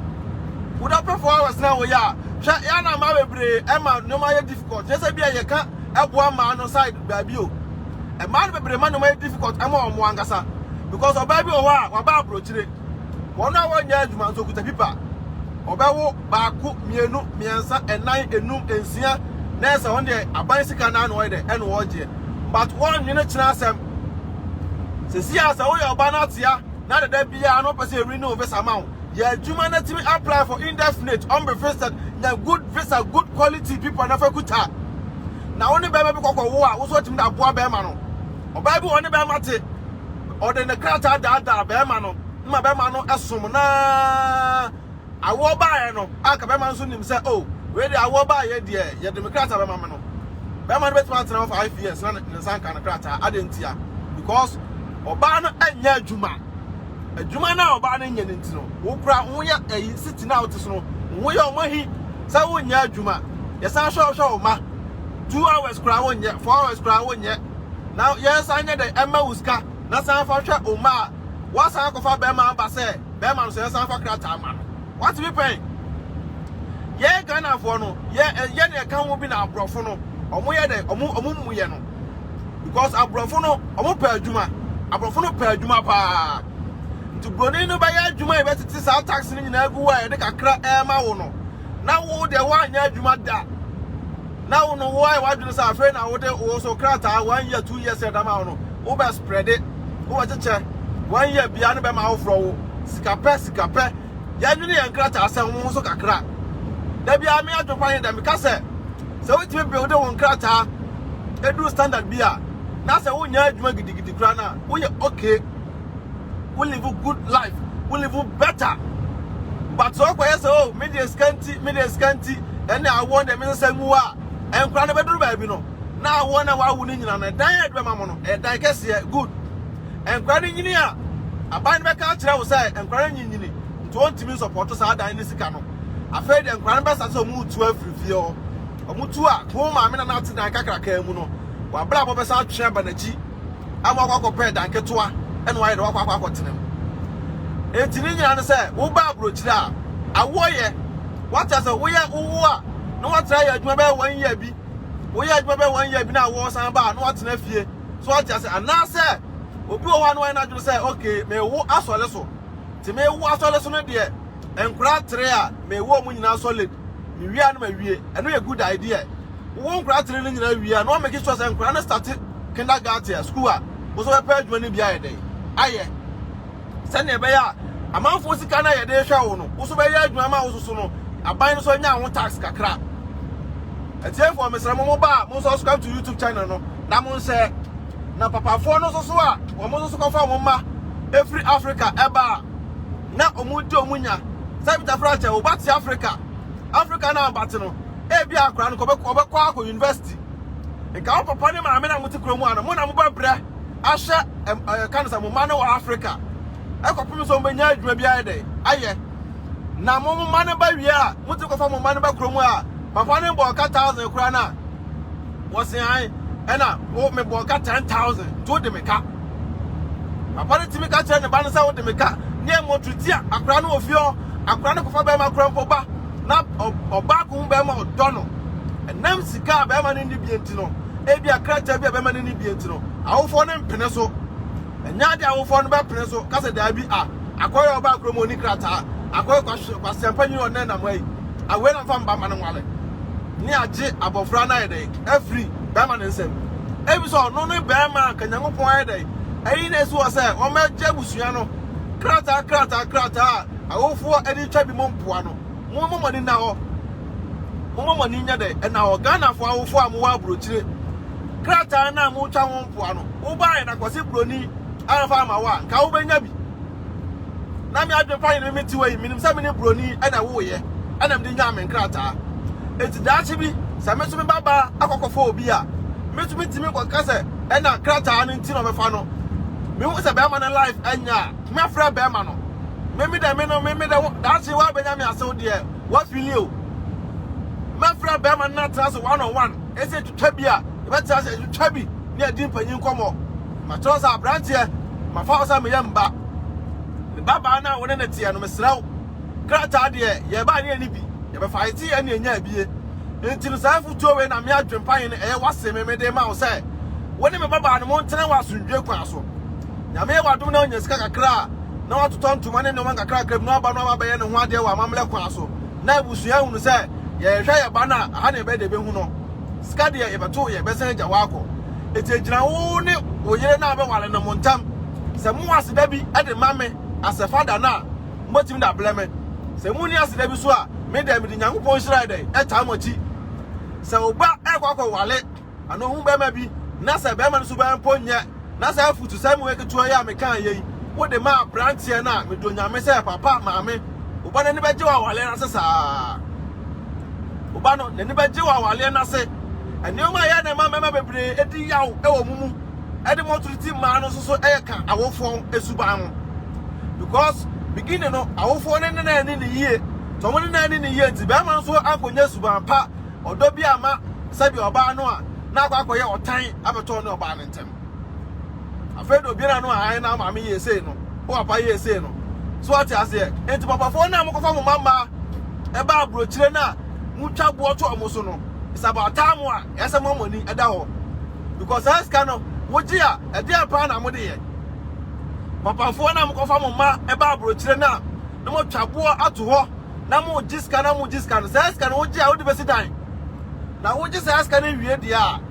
woda pɛfour hours no a woyɛ a hwɛ yɛ na mmaa bebree ɛma nneɛma ayɛ difficult yɛ sɛ bi a yɛ ka ɛboa mmaa no side baabi o mmaa no bebree ma nneɛma ayɛ difficult ɛma wɔn ankasa because ɔbaa bi wɔ hɔ a waba aburokyire wɔn a wɔnyɛ adwuma nso kuta pipa ɔbɛwo baako, mmienu, mmiɛnsa, nnan, nnum, nsia, na ɛyɛ sɛ wɔn deɛ aban sika naa na wɔyɛ dɛ ɛna wɔregyeɛ but wɔnnwene kyena asɛm sɛsi a sɛ woyɛ ɔba no atea na dada biara no pɛ sɛ ɛri ne wo visa ma wo yɛ adwuma no atumi apply for indefinite ɔmbe visa nya good visa good quality people na fa kuta na wo ne bɛrima bi kɔkɔ wo a wo so atumi da aboa bɛrima no ɔbaa bi wɔ ne bɛrima te ɔde ne krataa daadaa bɛrima no ma bɛrima no ɛsom naa Awoɔ baeɛ no, anka bɛrima no nso nim sɛ oh, wei deɛ awoɔ baeɛ deɛ, yɛde me krataa bɛma me no. Bɛrima no bɛtumi atena hɔ five years na ne nsa nka ne krataa. Adɛn ntia? Because ɔbaa no nyɛ adwuma. Adwuma no a ɔbaa no nyɛ no nti no, wo koraa wo ho yɛ ayi siti no a wote so no, wo ho yɛ ɔmahi sɛ wonyɛ adwuma. Yɛsan hwɛ wohwɛ wo ma, two hours koraa wonyɛ, four hours koraa wonyɛ, na yɛsan nyɛ dɛn ɛmma wo sika. na san fa hwɛ wo mma a wɔasan akɔfa barima aba sɛ barima no sɛ yɛsan fa krataa ma no. Woate me pɛn? Yɛn Ghanafoɔ no, yɛ eh, yɛ na ɛka ho bi na aborɔfo no, wɔn yɛ dɛ, wɔn wɔn mmu yɛ no. Because aborɔfo no, wɔn pɛ adwuma. Aborɔfo no pɛ adwuma paa. Nti buroni no bɛyɛ adwuma yi bɛtete saa tax no nyinaa gu wo a yɛde kakra ɛrema wo no. Na wo deɛ woanyɛ adwuma da. na wo no woayɛ w'adwene sɛ afei na wode wo so krataa one year two years ɛda ma wo no wobɛ spreade wobɛ kyekyɛ one year bia no bɛma awoforɔ wo sika pɛ sika pɛ yɛdwene yɛn krataa sɛ ho so kakra da biara me adwekwa ne dɛ meka sɛ sɛ wotumi builde wo nkrataa ɛduru standard bi a na sɛ wonyɛ adwuma gidigidi koraa no a woyɛ okay wo live good life wo live better but sɛ ɔkɔyɛ sɛ o oh, me deɛ sika nti me deɛ sika nti ɛne awoɔ deɛ mesɛ sɛ nwu a nkora no bɛduru baabi no na awoɔ na wawo no nyina no ɛdan a ɛdebɛma mo no ɛdan kɛseɛ good nkora no nyini a aban no bɛka akyerɛ wo sɛ nkora no nyinyini nti wɔntumi nsɔpɔto saa dan no sika no afei deɛ nkora no bɛsa sɛ ɔmo tu afiri fie hɔ ɔmo tu a ko maame na n'ate dan kakraka mu no wabrabɔ bɛsa atwe aba n'akyi ama wakɔ akɔpɛ ɛdan ketewa na wayɛ dɛ wakɔ akɔ akɔtena mu. Enti ne nyinaa ne sɛ woba aburokyire a, awoɔ yɛ. Wate asɛ, woyɛ wowo a na woatena ayɛ adwuma bɛyɛ one year bi, woyɛ adwuma bɛyɛ one year bi na awoɔ san ba a na woatena fie. So wate asɛ? Anaasɛ obi wɔ hɔ a na wayɛ n'adwene sɛ okay mewo asɔre so, nti mewo asɔre so no deɛ Nkwadaa atre a me wɔ ɔmo nyinaa solid. Me wie a na ma wie. Ɛno yɛ good idea. Wo wɔ nkwadaa atre no nyinaa wie a na wa make sure sɛ nkwadaa no starte kindergarten a, school a, wo nso bɛpɛ adwuma no bi ayɛ dɛn? Ayɛ. Sɛnea ɛbɛyɛ a amanfoɔ sika no a yɛde rehwɛ wo no, wo nso bɛyɛ adwuma ma wo nso so no, aban no nso nya wo tax kakra. Atiefoɔ mesrɛ mo mo ba a mo nso subscribe to YouTube channel no na mo nhyɛ. Na papafoɔ no nso so a wɔn nso so kɔfa wɔn mma ɛfiri Africa ɛba a, na wɔn de wɔn nya. Sɛ Peter Frank kyɛ, wɔba te Africa. Africa na wɔba te no, ebi a akora no kɔbɛkɔ ɔbɛkɔ akɔ university. Nka wɔn papa ne maame na wɔte kurom a no, mo na mobɛbrɛ ahwɛ ɛɛ kan sɛ mo mma no wɔ Africa. Ɛkɔpem sɛ wɔbɛnya adwuma bi ayɛ dɛ ayɛ. Na mo mma no ba wie a, motumi kɔfa mo mma no ba kurom a, papa no bɔ ɔka thousand koraa na wɔsean ɛna wo mebɔ ɔka ten thousand nti wode me ka. Papa no tumi ka kyerɛ ne ba no sɛ wode me ka ne ɛmmɔ to tia akora no wɔ fie hɔ. Akora no kɔfa bɛrima kora mpo ba na ɔbaa ko ho bɛrima ɔdɔ no. Ɛnam sika a bɛrima no nni bie nti no, ebia krataa bi a bɛrima no nni bie nti no, awofoɔ no mpene so. Ɛnyɛ adeɛ a awofoɔ no bɛpene so ka sɛ daabi a akora yi a ɔbaa kurom a ɔnni krataa, akora yi kwaseampanyini ɔnnɛ nam ha yi, awei na mfa me ba mma no nware ne agye abɔfra no ayɛ dɛn afiri bɛrima no nsam. Ebisɛ ɔno ne barima a anka Nyankopɔn ayɛ dɛn? Ayi no asi hɔ sɛ wɔmmɛgye abusua no krataa krataa krataa a awofoɔ de twa bi mu mpoa no. Mommɔ mo ani nna hɔ. Mommɔ mo ani nyɛ dɛn? Nna hɔ. Ghanafoɔ awofoɔ a mowɔ aburokyire, krataa no a motwa ho mpoa no, wobaeɛ na Kwasi Broni amfa amma wo a, nka wobɛnya bi. na me adwene pa ne me mete hɔ yi, menim sɛ me ne buroni na ɛwoeɛ na mede nyaa me nkrataa. Enti daakye bi, sɛ me nso me ba baa akɔkɔfa obi a, me nso metumi kɔka sɛ ɛna krataa no nti na ɔbɛfa no. Mehu sɛ bɛrima no life nyɛ a, mɛfrɛ bɛrima no. Me me dɛ me no, me me dɛ daakye woabɛnya me ase wo deɛ, woafili o. Mɛfrɛ bɛrima no na atena ase one on one. twa bi a, yɛbɛtena ase atwitwa bi ne adi mpanyin nkɔmmɔ. Makyerɛ wo sɛ, aberanteɛ, mafa wo sɛ meyɛ me ba. Me babaa no a wo ne no teɛ no, mesrɛ wo, krataa deɛ, yɛbae ne yɛnni bi, yɛbɛfa ayetee ɛne anya abie. Enti no, saa afotuo wei na me adwempa he ne ɛyɛ w'ase me mede rema wo sɛ, wo ne me babaa no montena wɔ asomdwie kwan so. Nyame yɛ w'adom na wonya sika kakra a, na woatotɔ ntoma ne nnoɔma nkakrankra bi na woaba na woaba abɛyɛ ne ho adeɛ wɔ amammerɛ kwan so, na abusua hunu sɛ yɛrehwɛ yɛn ba no a, ha na yɛbɛyɛ dɛ yɛbɛhu no. Sika deɛ, yɛbɛto, yɛbɛsan agya wo akɔ. Enti ɛgyina wo ne wo yere no a wobɛware no mo ntam. Sɛ mowɔ aseda bi de ma me Asefa da no a, mobɛtumi de abrɛ me. Sɛ monni aseda bi nso a, me deɛ, mede Nyankopɔn nhyira yɛ dɛn? Ɛtaa mo akyi. Sɛ wo ba rekɔ akɔware. ano hu barima bi na sɛ barima no suban mpo nyɛ na saa afutusɛm wei ketewa yi a mekaa yei wode ma aberanteɛ no a, mede Onyame sɛ papa maame, wo ba no ani bɛgye wɔ awaleɛ no ase saa. Wo ba no n'ani bɛgye wɔ awaleɛ no ase. Nneɛma a ɛyɛ na ɛma mmarima bebree di yaw wɔ mo mu de mo toro ti mmaa no nso so yɛ ka awofoɔ suban ho. Because beginning no awofoɔ no ne na ani ne yie, sɛ wɔn ne na ani ne yie nti barima no nso ankɔnya suban pa ɔdɔ bi amma sɛdeɛ ɔbaa no a na akɔ akɔyɛ ɔtan abɛtɔ ɔne ɔbaa no ntam. Afei deɛ obiara no a ae na ama me yie sei no, wo papa yɛɛ sei no. So wate aseɛ? Enti papafoɔ no a mokɔfa mo mma mmaa ba aburokyire no a motwa boɔ to wɔn so no, it's about time a ɛyɛ sɛ moama mo ani da hɔ. Because saa sika no, wogye a, ɛdeɛn paa na mode yɛ? Papafoɔ no a mokɔfa mo mma ba aburokyire no a na moatwa boɔ ato hɔ na moregye sika na moregye sika no, saa sika no wogye a wode bɛsi dan. Na wogye saa sika no wie deɛ a,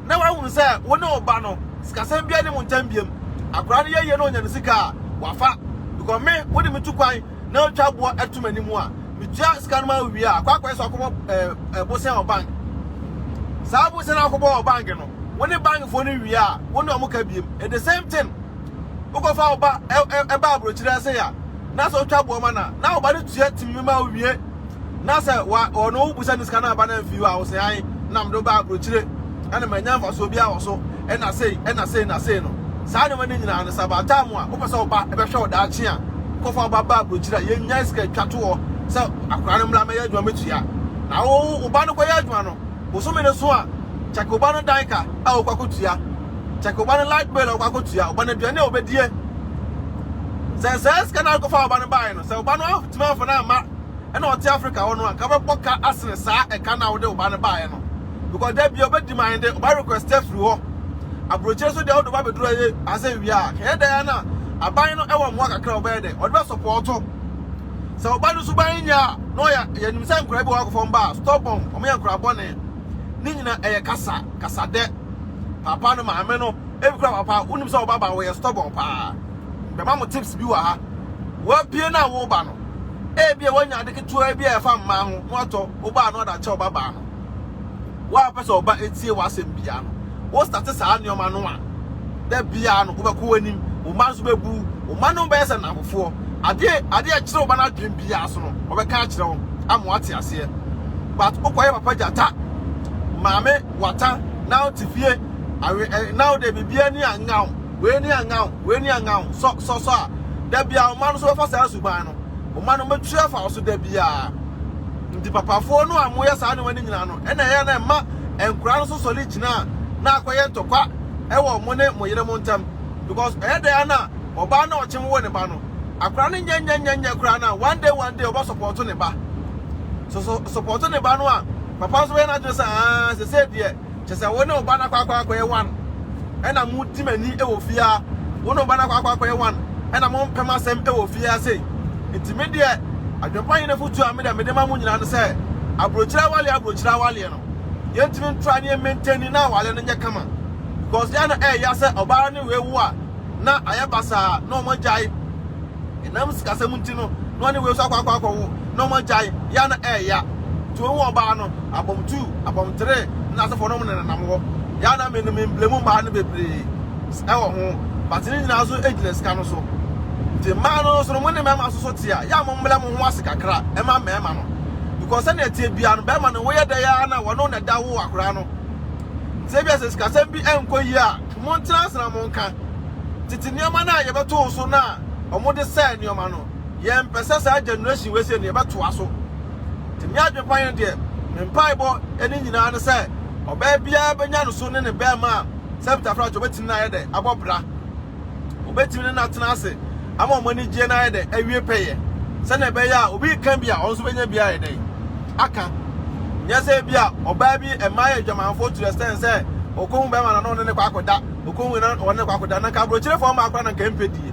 na woahunu sɛ wo ne wo ba no, sikasɛm biara nni mo ntam biom. Akwadaa no yɛ yie na ɔnya ne sika a, wafa. Because me, wode me tu kwan na woatwa boɔ ato m'anim a, metua sika no ma wo wie a, kɔ akɔyɛ sɛ ɔkɔbɔ eh, eh, bosan wɔ bank. Saa bosan a wokɔbɔ wɔ bank no, wo ne bankfoɔ no wie a, wo ne wɔn ka biom. It's the same thing. Wokɔfa wo ba ba aburokyire ase a, na sɛ wotwa boɔ ma no a, na wo ba no tua tim no ma wowie. Na sɛ ɔno wobusa no sika no aba no amfi hɔ a, wose ae na mede wo ba aburokyire na manya mfasoɔ biara wɔ so na sei na sei na sei no. Saa nneɛma no nyinaa no, sɛ about time a wopɛ sɛ wo ba bɛhwɛ wo daakye a, kɔfa wo ba ba aburokyire a yɛnnya sika atwa toɔ sɛ akwadaa no mmra mmɛyɛ adwuma mɛtua. Na wo wo ba no kɔyɛ adwuma no, bosome no so a, kyɛke wo ba no dan ka a wokɔ akɔtua. Check ɔba no light bill a ɔkɔ akɔtua, ɔba no aduane a ɔbɛdie. Sɛ saa sika no a wokɔfa ɔba no baeɛ no, sɛ ɔba no antumi amfa no amma ɛna ɔte Africa hɔ no a, nka wobɛbɔ ka asene saa ɛka no a wode ɔba no baeɛ no. Because da bia ɔbɛdi man de, ɔba request afiri hɔ. Aburokyire nso deɛ wode ɔba bɛduru ayɛ asɛ wie a, kɛyɛ dɛn na aban no ɛwɔ mmoa kakra a ɔbɛyɛ dɛn, ɔde bɛ sɔpɔɔto. Sɛ ɔba no suban nyɛ a, na ɔyɛ, yɛnim sɛ nkora bi wɔ akɔfam ba a, stubborn, wɔyɛ nkora bɔne. Ne nyina ɛyɛ kasa kasa dɛ papa no maame no ebi kora papa wonim sɛ ɔbaba wɔyɛ stubborn paa bɛma mo tips bi wɔ ha wɔabie no a woba no ebia wɔanya ade ketewa bi a ɛfa mmaa ho na watɔ woba no ɔda kyɛ ɔbaba no woapɛ sɛ ɔba etie w'asɛm bia no wo starte saa nneɛma no a, da biara no wobɛkɔ w'anim, wo mma nso bɛbu wo, wo mma no bɛyɛ sɛ nnamfofoɔ. Adeɛ adeɛ a ɛkyerɛ wo ba no adwene biara so no, ɔbɛka akyerɛ wo ama wate aseɛ. But wokɔyɛ papa gyata, maame wata, na wote fie, awe ɛ, na wode biribiara ni anga wo, wei ni anga wo, wei ni anga wo, sɔ sɔ sɔ a, da biara wo mma no nso bɛfa saa suban no, wo mma no bɛtwi afa wo so da biara. Nti papafoɔ no a moyɛ saa nneɛma no nyinaa no, ɛna ɛyɛ a na ɛma nkwadaa no nso sɔre gyina a na akɔyɛ ntɔkwa wɔ mo ne mo yerenom ntam because ɛyɛ dɛn ara na ɔbaa na ɔkye wo ne ba no akwadaa no nyɛ nyɛ nyɛ nyɛ koraa no a one day one day ɔbɛ support ne ba so so support ne ba no a papa nso bɛyɛ n'adwene sɛ aa sese deɛ kyɛ sɛ wo ne ɔba no akɔ akɔ akɔyɛ one ɛna mo di m'ani wɔ fie a wo ne ɔba no akɔ akɔ akɔyɛ one ɛna mo mpɛm asɛm wɔ fie ase. Enti me deɛ, Adwempa Hene afotuo a me deɛ mede ma mo nyinaa ne sɛ, Aburokyire awaleɛ aburokyire awaleɛ no, yɛntumi ntra ne yɛ maintain no na awaleɛ no nyɛ kama. Because yɛ a na ɛyɛ ya sɛ ɔbaa ne wei wo a, na ayɛ basaa na wɔn agyae. Ɛnam sikasɛm nti no, na ɔne wei nso akɔ akɔ akɔ wo na wɔn agyae. Yɛ a na ɛyɛ ya. Nti wɔn ɔbaa no, abɔm two, abɔm three, na n'asefoɔ nom na ɛnenam hɔ. Yɛ a na me no me mblemu mmaa no bebree. wɔ ho, but ne nyinaa nso gyina sika no so. Nti mmaa no nso no, mo ne mmarima nso so te a, yɛ a mommrɛ mo ho ase kakra mma mmarima no, because sɛnea ɛteɛ biara no, barima no woyɛ dɛn ara na wɔne wo na ɛda wo akwadaa no. Nti ebia sɛ sikasɛm bi nkɔ yie a, montena ase na monka. Tete nneɛma no a yɛbɛtoo so no a wɔde sɛe nneɛma no, yɛmpɛ sɛ saa generation wei sei no yɛbɛtoa so. Nti me adwene pa ne deɛ, me mpaebɔ ne nyinaa ne sɛ ɔbaa biara bɛnya ne so ne ne barima a sɛ Petrafilakis deɛ ɔbɛtumi no ayɛ dɛ abɔ bra. Ɔbɛtumi ne no atena ase ama wɔn anigyeɛ no ayɛ dɛ awie pɛyɛ. Sɛnea ɛbɛyɛ a obi reka bi a ɔno nso bɛnya bi ayɛ dɛ aka. Nyɛ sɛ ebi a ɔbaa bi mmaa yɛ adwamanfoɔ to the extent sɛ ɔkɔhu bɛrima na na ɔne ne kɔ akɔda. Ɔkɔhu na ɔne ne kɔ akɔda. Na nka aburokyerefo mmaa koraa na nka ɛmpɛ die.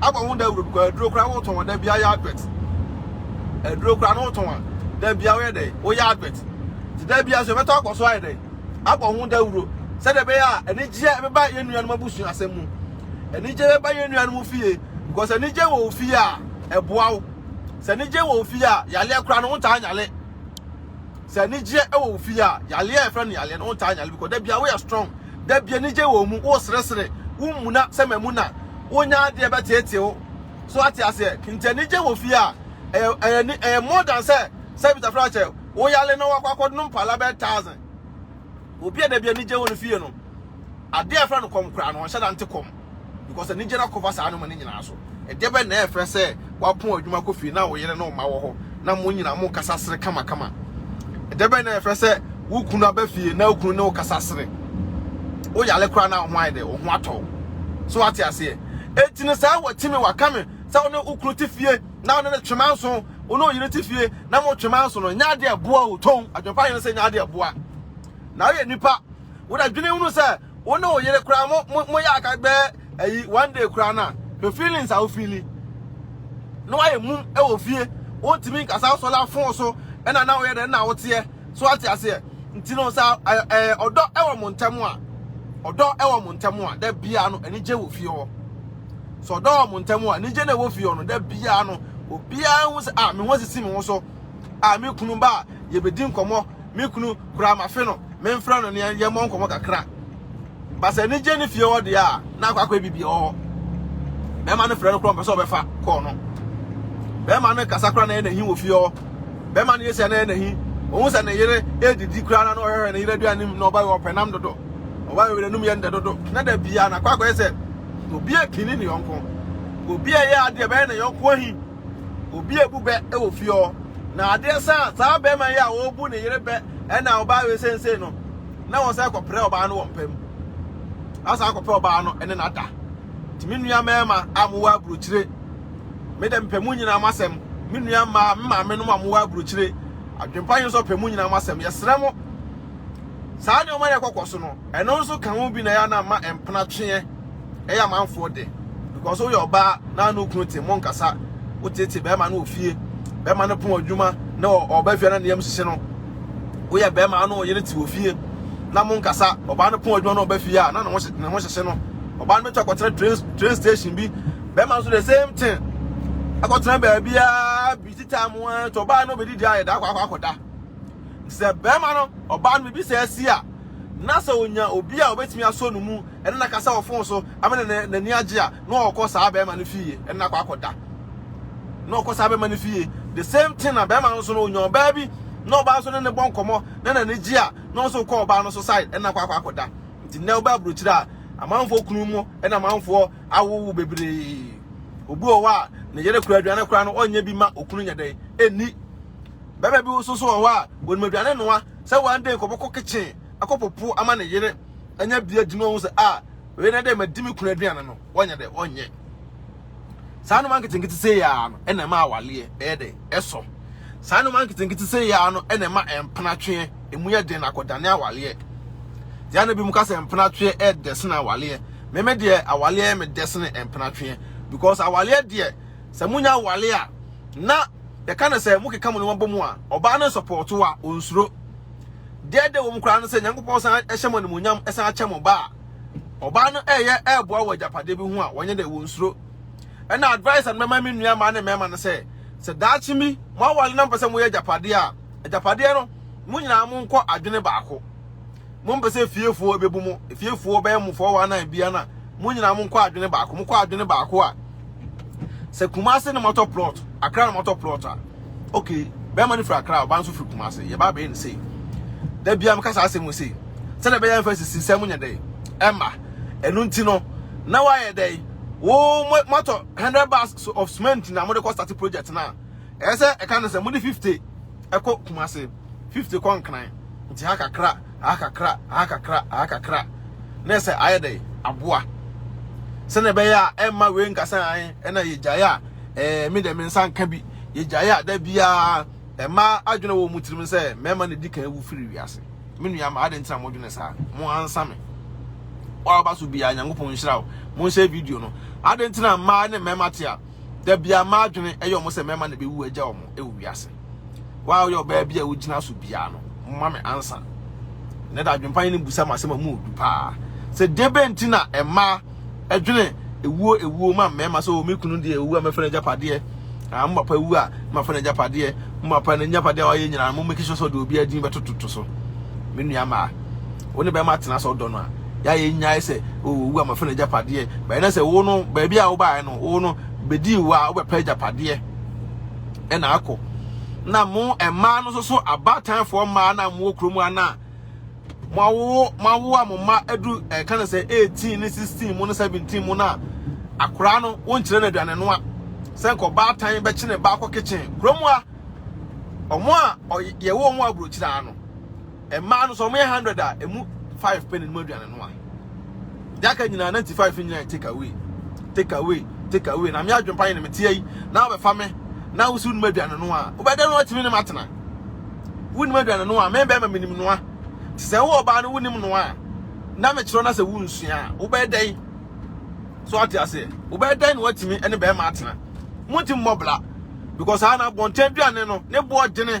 Abɔ ho dawuro because aduro koraa wotɔn a da biara yɛ advert. Aduro koraa no wotɔn a da biara woyɛ dɛ woyɛ advert. Nti da biara nso yɛbɛtɔ akɔ so ayɛ dɛ abɔ ho dawuro sɛdeɛ ɛbɛyɛ a anigyeɛ ɛbɛba yɛn nuanom abusua asɛm mu. Anigyeɛ bɛba yɛn nuanom fie because anigyeɛ wɔ wo fie a ɛboa wo. Sɛ anigyeɛ wɔ wo fie a yaleɛ koraa no wontaa nyale. sɛ anigyeɛ wɔ wo fie a yaleɛ a yɛfrɛ no yaleɛ no wontaa nyale because da bia woyɛ strong da bia anigye wɔ mu woresresere wommuna sɛ mamu na wonya adeɛ bɛteetee wo so ate aseɛ nti anigye wɔ fie a ɛyɛ ɛyɛ ɛyɛ more than sɛ sɛ bitafra kyɛ woyale na wakɔ akɔdom pala bɛyɛ thousand Obi a dabi anigye wɔ ne fie no, ade a yɛfrɛ no kɔm koraa no, ɔnhyɛ da nte kɔm because anigye no akɔfa saa nneɛma no nyinaa so. Ɛdeɛbɛn na ɛfrɛ sɛ woapɔn adwuma kɔ fie na wo yere ne wo mma wɔ hɔ na mo nyinaa mo kasa sere kamakama? Ɛdeɛbɛn na ɛfrɛ sɛ wo kunu aba fie na wo kunu ne wo kasa sere? Wo yale koraa na wo ho ayɛ dɛ, wo ho atɔ wo. So wate aseɛ? Enti no saa watimi waka me sɛ wo ne wo kunu te fie. na ɔne no twe manso, wo ne wo yere te fie na motwe manso no, nyɛ adeɛ ɛboa o, tɔn adwempa yere sɛ nyɛ adeɛ ɛboa. Na woyɛ nipa, woda dwene hunu sɛ wo ne wo yere koraa mo mo mo yɛ aka bɛɛ ayi one day koraa na hwɛ feelings a wofeeli na woayɛ mum ɛwɔ fie, wontumi nkasa wosɔle afon so ɛna na woyɛ dɛ na woteɛ. So wate aseɛ? Nti no sɛ ɛɛ ɔdɔ ɛwɔ mo ntɛm a, ɔdɔ ɛwɔ mo ntɛm a, da biara no anigye wɔ fie hɔ. So ɔdɔ wɔ mo ntɛm a, anigye na ɛwɔ fie hɔ no, da biara no obiara ho sɛ a me ho sisi me ho so a me kunu ba a yɛbɛdi nkɔmmɔ me kunu koraa mafe no memfrɛ no ne yɛmmɔ nkɔmmɔ kakra. But sɛ anigye ne fie hɔ deɛ a na akɔ akɔyɛ biribi wɔ hɔ bɛrima no frɛ no korɔ mpɛ sɛ ɔbɛfa kɔɔ no bɛrima no kasa kora na ɛyɛ n'ahi wɔ fie hɔ bɛrima no yɛ sɛ na ɛyɛ n'ahi ohun sɛ ne yere edidi kora na ɔhwehwɛ ne yere aduane mu na ɔba yɛ ɔpɛ nam dodo ɔba yɛ ɔyere num yɛ ndɛ dodo na da bia na akɔ akɔyɛ sɛ obi apini ne yɔnko obi a ɛyɛ adeɛ bɛyɛ ne yɔnko ahi obi a ebu bɛ wɔ fie hɔ na adeɛ saa saa bɛrima yi a ɔbu ne yere bɛ ɛna ɔba yɛ sensei no na wɔn san kɔpere ɔbaa no wɔ mpa mu. Asan kɔpɛ ɔbaa no ne no ada. Nti me nua mmarima a mowɔ aburokyire, me dɛ mepɛ mu nyinaa mo asɛm. Me nua mmaa, me maame nom a mowɔ aburokyire, adwempa yi nso pɛ mu nyinaa mo asɛm. Yɛsrɛ mo, saa nneɛma na ɛkɔkɔ so no, ɛno nso ka ho bi na ɛyɛ a na mma mpena tweɛ. ɛyɛ amanfoɔ dɛ because woyɛ ɔbaa na ano kunu te mo nkasa wotiatia bɛrima no wɔ fie bɛrima no pon adwuma na ɔba fie na ne yam hyehye no woyɛ bɛrima ano ɔyere te wɔ fie na mo nkasa ɔbaa no pon adwuma na ɔba fie a na ne ho hyehye no ɔbaa no bɛtɔ akɔtena train train station bi bɛrima nso the same thing akɔtena baabi a bi ti taa mo a tɔ ɔbaa no bɛdi di ayɛ da akɔ akɔ akɔda sɛ bɛrima no ɔbaa no biribi sɛ asi a na sɛ onya obi a obetumi asɔ no mu ɛne no akasa wɔ fon so ama no n'ani agye a, na ɔkɔ saa bɛrima no fie ɛne no akɔ akɔda. Na ɔkɔ saa bɛrima no fie. The same thing na bɛrima no nso no onya ɔbaa bi na ɔbaa nso ne ne bɔ nkɔmmɔ na n'ani gye a, na ɔno nso kɔ ɔbaa no so side ɛne no akɔ akɔ akɔda. Nti nnɛ wobɛ aburokyire a, amanfoɔ kunu mu ɛne amanfoɔ awowo bebree. Obi wɔ hɔ a, ne yere kura aduane koraa no ɔnyɛ bi ma okunu nyɛ dɛn ɛnni. Bɛrima bi nso so wɔ hɔ a, onim aduane noa sɛ one day nkɔbɔkɔ kitchen akɔ popo ama ne yere. anya bi agyina wɔn ho sɛ a wei na dɛ madi me kunu aduane no wɔnyɛ dɛ wɔnyɛ saa nneɛma nketenkete sɛ yɛa no ɛna ɛma awaleɛ ɛyɛ dɛ ɛsɔ saa nneɛma nketenkete sɛ yɛa no ɛna ɛma mpenatweɛ emu yɛ den akɔdane awaleɛ deɛ na bi mu ka sɛ mpenatweɛ ɛdɛ sene awaleɛ meme deɛ awaleɛ me dɛ sene mpenatweɛ because awaleɛ deɛ sɛ monya awale a na yɛka no sɛ mokeka mo nneɛma bɔ mu a ɔbaa no nsɔpɔɔto a ɔnsuro Deɛ ɛdɛ wɔ mu koraa ne sɛ, Nyankopɔn san hyɛ mo animuonyam san kyɛ mo ba a, ɔbaa no reyɛ reboa wɔ agyapadeɛ bi ho a, wɔnyɛ dɛ, wɔnsuro. Ɛna advice a mɛma me nua mmaa ne mmarima ne sɛ, sɛ daakye bi moaware na mpɛ sɛ moyɛ agyapadeɛ a, agyapadeɛ no, mo nyinaa monkɔ adwene baako. Mompɛ sɛ fiefoɔ bɛbu mo, fiefoɔ bɛyɛ mo 419 bia no a, mo nyinaa monkɔ adwene baako. Mokɔ adwene baako a, sɛ kumase na mɔtɔ plot akra na mɔtɔ plot a okay bɛrima no firi akra ɔba nso firi kumase yɛba abɛyɛ no sei da bia meka saa asɛm mu sei sɛdeɛ ɛbɛyɛ mfa sisi nsɛm nyɛ dɛn ɛma ɛno nti no na woayɛ dɛn wo mɔtɔ 100 bags of cement na mode kɔ start project no a ɛyɛ sɛ ɛka no sɛ mode 50 ɛkɔ Kumase, fifty kɔ Nkran, nti ha kakra, ha kakra, ha kakra, ha kakra, na ɛsɛ ayɛ dɛ aboa sɛnea ɛbɛyɛ a ɛmma wei nka sɛ an ɛna yɛgyae a ɛɛ me deɛ me nsa nka bi yɛgyae a da biara ɛma adwene wɔ mu tirim sɛ mmarima na di kan awu firi wiase me nua ma ade ntina mo dwene saa mo ansa me wɔaba so biara nyankopɔn nhyira wo mo nhyɛ video no ade ntina mmaa ne mmarima te a da bia m'adwene ɛyɛ wɔn sɛ mɛma na bɛwu agya wɔn ɛwɔ wiase waa ɔyɛ ɔbaa bi a wogyina so bia no mma me ansa na da adwempa ne busa ma asɛm a mu odu paa sɛ debe nti na ɛma ɛdwene ewuo ewuo ma mmarima sɛ wɔn kunu deɛ ewu a mɛfɛ n'agya padeɛ ah mo papa ewu a mɛfɛ n'agya padeɛ mo papa n'agya padeɛ a wɔayɛ nyinaa mo mɛkisɛ sɛ ɔde obi adin bɛtototo so me nua maa wo ne bɛrima tena sɛ ɔdɔ no a yɛ yɛ nyae sɛ owu a mafɛ no agyapadeɛ bɛyɛ na sɛ wo no baabi a wobaeɛ no wo no bɛdii wo a wobɛpɛ agyapadeɛ ɛna akɔ na mo mmaa no nso so abaatanfoɔ mmaa na mo wɔ kurom a na moawo moawo a mo mma adu ɛka no sɛ 18 ne 16 mo ne 17 mo no a akoraa no wonkyerɛ no aduane no a sɛ nkɔ baatan bɛkye ne baakɔ kitchen kurom a ɔmo a yɛwɔ ɔmo aburokyiraa no Mmaa no sɛ wɔyɛ hundred a emu five pɛ na ɛnum aduane no a deɛ aka nyinaa ninety five nyinaa take away take away take away na me adwempa yi na me teɛ yi na wobɛfa me na wosi wonum aduane no a wobɛdɛ no atumi ne matena wonum aduane no a me bɛrima menim noa te sɛ wo ɔbaa no wonim noa a na mekyerɛ no sɛ wonsua a wobɛdɛn so ate aseɛ wobɛdɛn na watumi ne bɛrima atena monti mmɔbla because ana bɔntɛn aduane no ne boɔ dene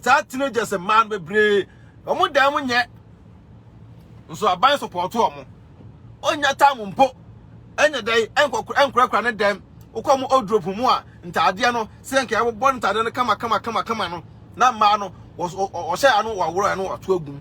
Saa teenagers mmaa no bebree wɔn dan mu nyɛ nso aban support wɔn. Onnya time mpo ɛnyɛ dɛn ɛnkɔ ɛnkorakora ne dɛm. Wokɔ mo wardrobe mu a ntaadeɛ no sɛ nka ɛbobɔ ne ntaadeɛ no kama kama kama kama no na mmaa no wɔhyɛ yɛ ano wɔworɔ yɛ ano wɔato agum.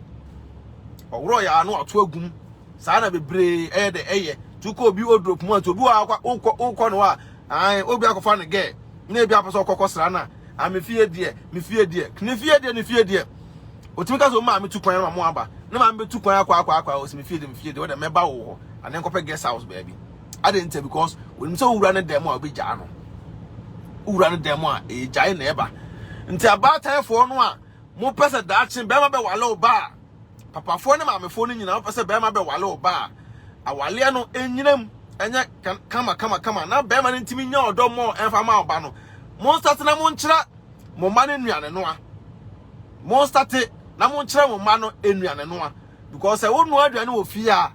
Wɔworɔ yɛ ano wɔato agum. Saa na bebree ɛyɛ dɛ ɛyɛ. Tukɔ obi wardrobe mu a nti obi wɔ akɔ wokɔ wokɔ no a ae obi akɔfa ne gɛɛ na ebi apɛ sɛ ɔkɔ kɔsra na a me fie deɛ me fie deɛ ne fie deɛ ne fie deɛ otumi ka sɛ o maame tu kwan na maame aba na maame bɛtu kwan akɔ akɔ akɔ ɔsɛ me fie deɛ me fie deɛ ɔdɛ mɛba wo hɔ ane nkɔpɛ guest house baabi adɛn nti because onim sɛ wowura ne dɛm a wobɛgyaa no wowura ne dɛm a ɛgyae na ɛba nti abaatan foɔ no a mopɛ sɛ daakye bɛrima bɛwale ɔbaa Papafoɔ ne maamefoɔ no nyinaa wopɛ sɛ bɛrima bɛwale ɔba a awaleɛ no ɛnyinam ɛnyɛ kama kama kama na bɛrima no ntumi nya ɔdɔ mmɔ ɛmfa ma ɔba no monstate na monkyerɛ mo mma no nnuane noa monstate na monkyerɛ mo mma no nnuane noa because sɛ wonoa aduane wɔ fie a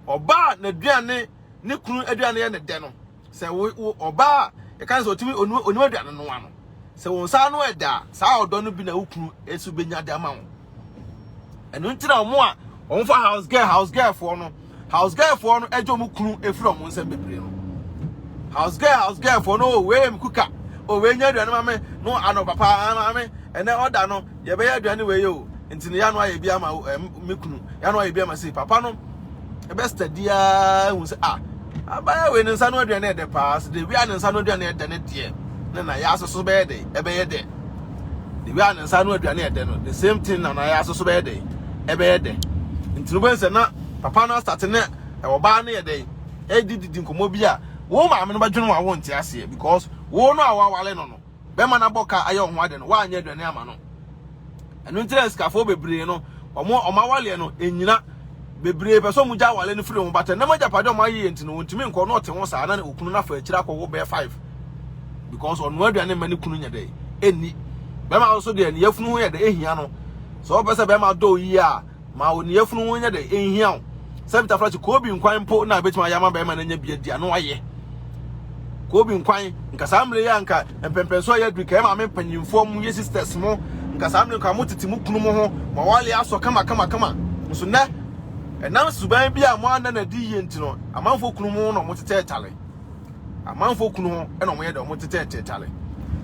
ɔba a n'aduane ne kunu aduane yɛ ne dɛ no Sɛ wo wo ɔbaa a yɛka no sɛ ɔtumi ɔnim ɔnim aduane noa no, sɛ wɔn nsa ano ɛda a, saa ɔdɔ no bi na wo kunu nso bɛnya de ama wo. Ɛno nti na wɔn a wɔfa house girl house girl foɔ no house girl foɔ no agye wɔn kunu efiri wɔn nsam bebree no house girl house girl foɔ no o wei yɛ me kuka o wei nya aduane ma me no ano papa maame ɛnɛ ɔda no Yɛbɛyɛ aduane wei o, nti no yɛano ayɛ bi ama wo ɛm me kunu, yɛano ayɛ bi ama sei. Papa no ɛbɛ steady aa hu sɛ ah abaya wei ne nsa no aduane ɛdɛ paa, sɛ de wia ne nsa no aduane ɛdɛ ne deɛ ne na yɛ aso so bɛyɛ dɛ ɛbɛyɛ dɛ. De wia ne nsa no aduane ɛdɛ no the same thing na na yɛ aso so bɛyɛ dɛ ɛbɛyɛ dɛ. Nti no bɛn sɛ na papa no asate ne ɛwɔ baa no yɛ dɛ ɛdi didi nkɔmɔ bi a wo maame no bɛdwene wa wo nte aseɛ because wo no a wawale no no bɛma no abɔ ka ayɛ ɔho ade no, woanyɛ aduane ama no. Ɛno nti na sikafoɔ bebree no, ɔmo ɔmo awaleɛ no, ɛnyina. Bebree pɛ sɛ ɔmo gya awale no firi ɔmo bata. Nnam agyapadeɛ ɔmo ayeyɛ nti no, ɔntumi nkɔ na ɔte ho saa na okunu no afa akyire akɔwo bɛyɛ five. Because ɔnoa aduane mma ne kunu nyɛ dɛ, ɛnni. Bɛma nso deɛ ne yafunu ho yɛ dɛ, ɛhia no. Sɛ ɔpɛ sɛ bɛma dɔ yie a, Ma wo ne yafunu ho nyɛ dɛ, enhia wo sɛ Peter Flash Koobi nkwan mpo na ebetumi ayɛ ama barima no anya bi adi a na wayɛ Koobi nkwan. Nka saa mmerɛ yi a nka mpɛmpɛnsoɔ ayɛ aduru, nka yɛ maame mpanyinfoɔ mo yɛ sisters mo, nka saa mmerɛ nka mo tete mo kunu mo ho, mo awale asɔ kama kama kama. Nso nnɛ, ɛnam suban bi a mo anna no adi yie nti no, amanfoɔ kunu mo ho na wɔn tetɛ tale. Amanfoɔ kunu ho na wɔn yɛ dɛ, wɔn tetɛ tetale.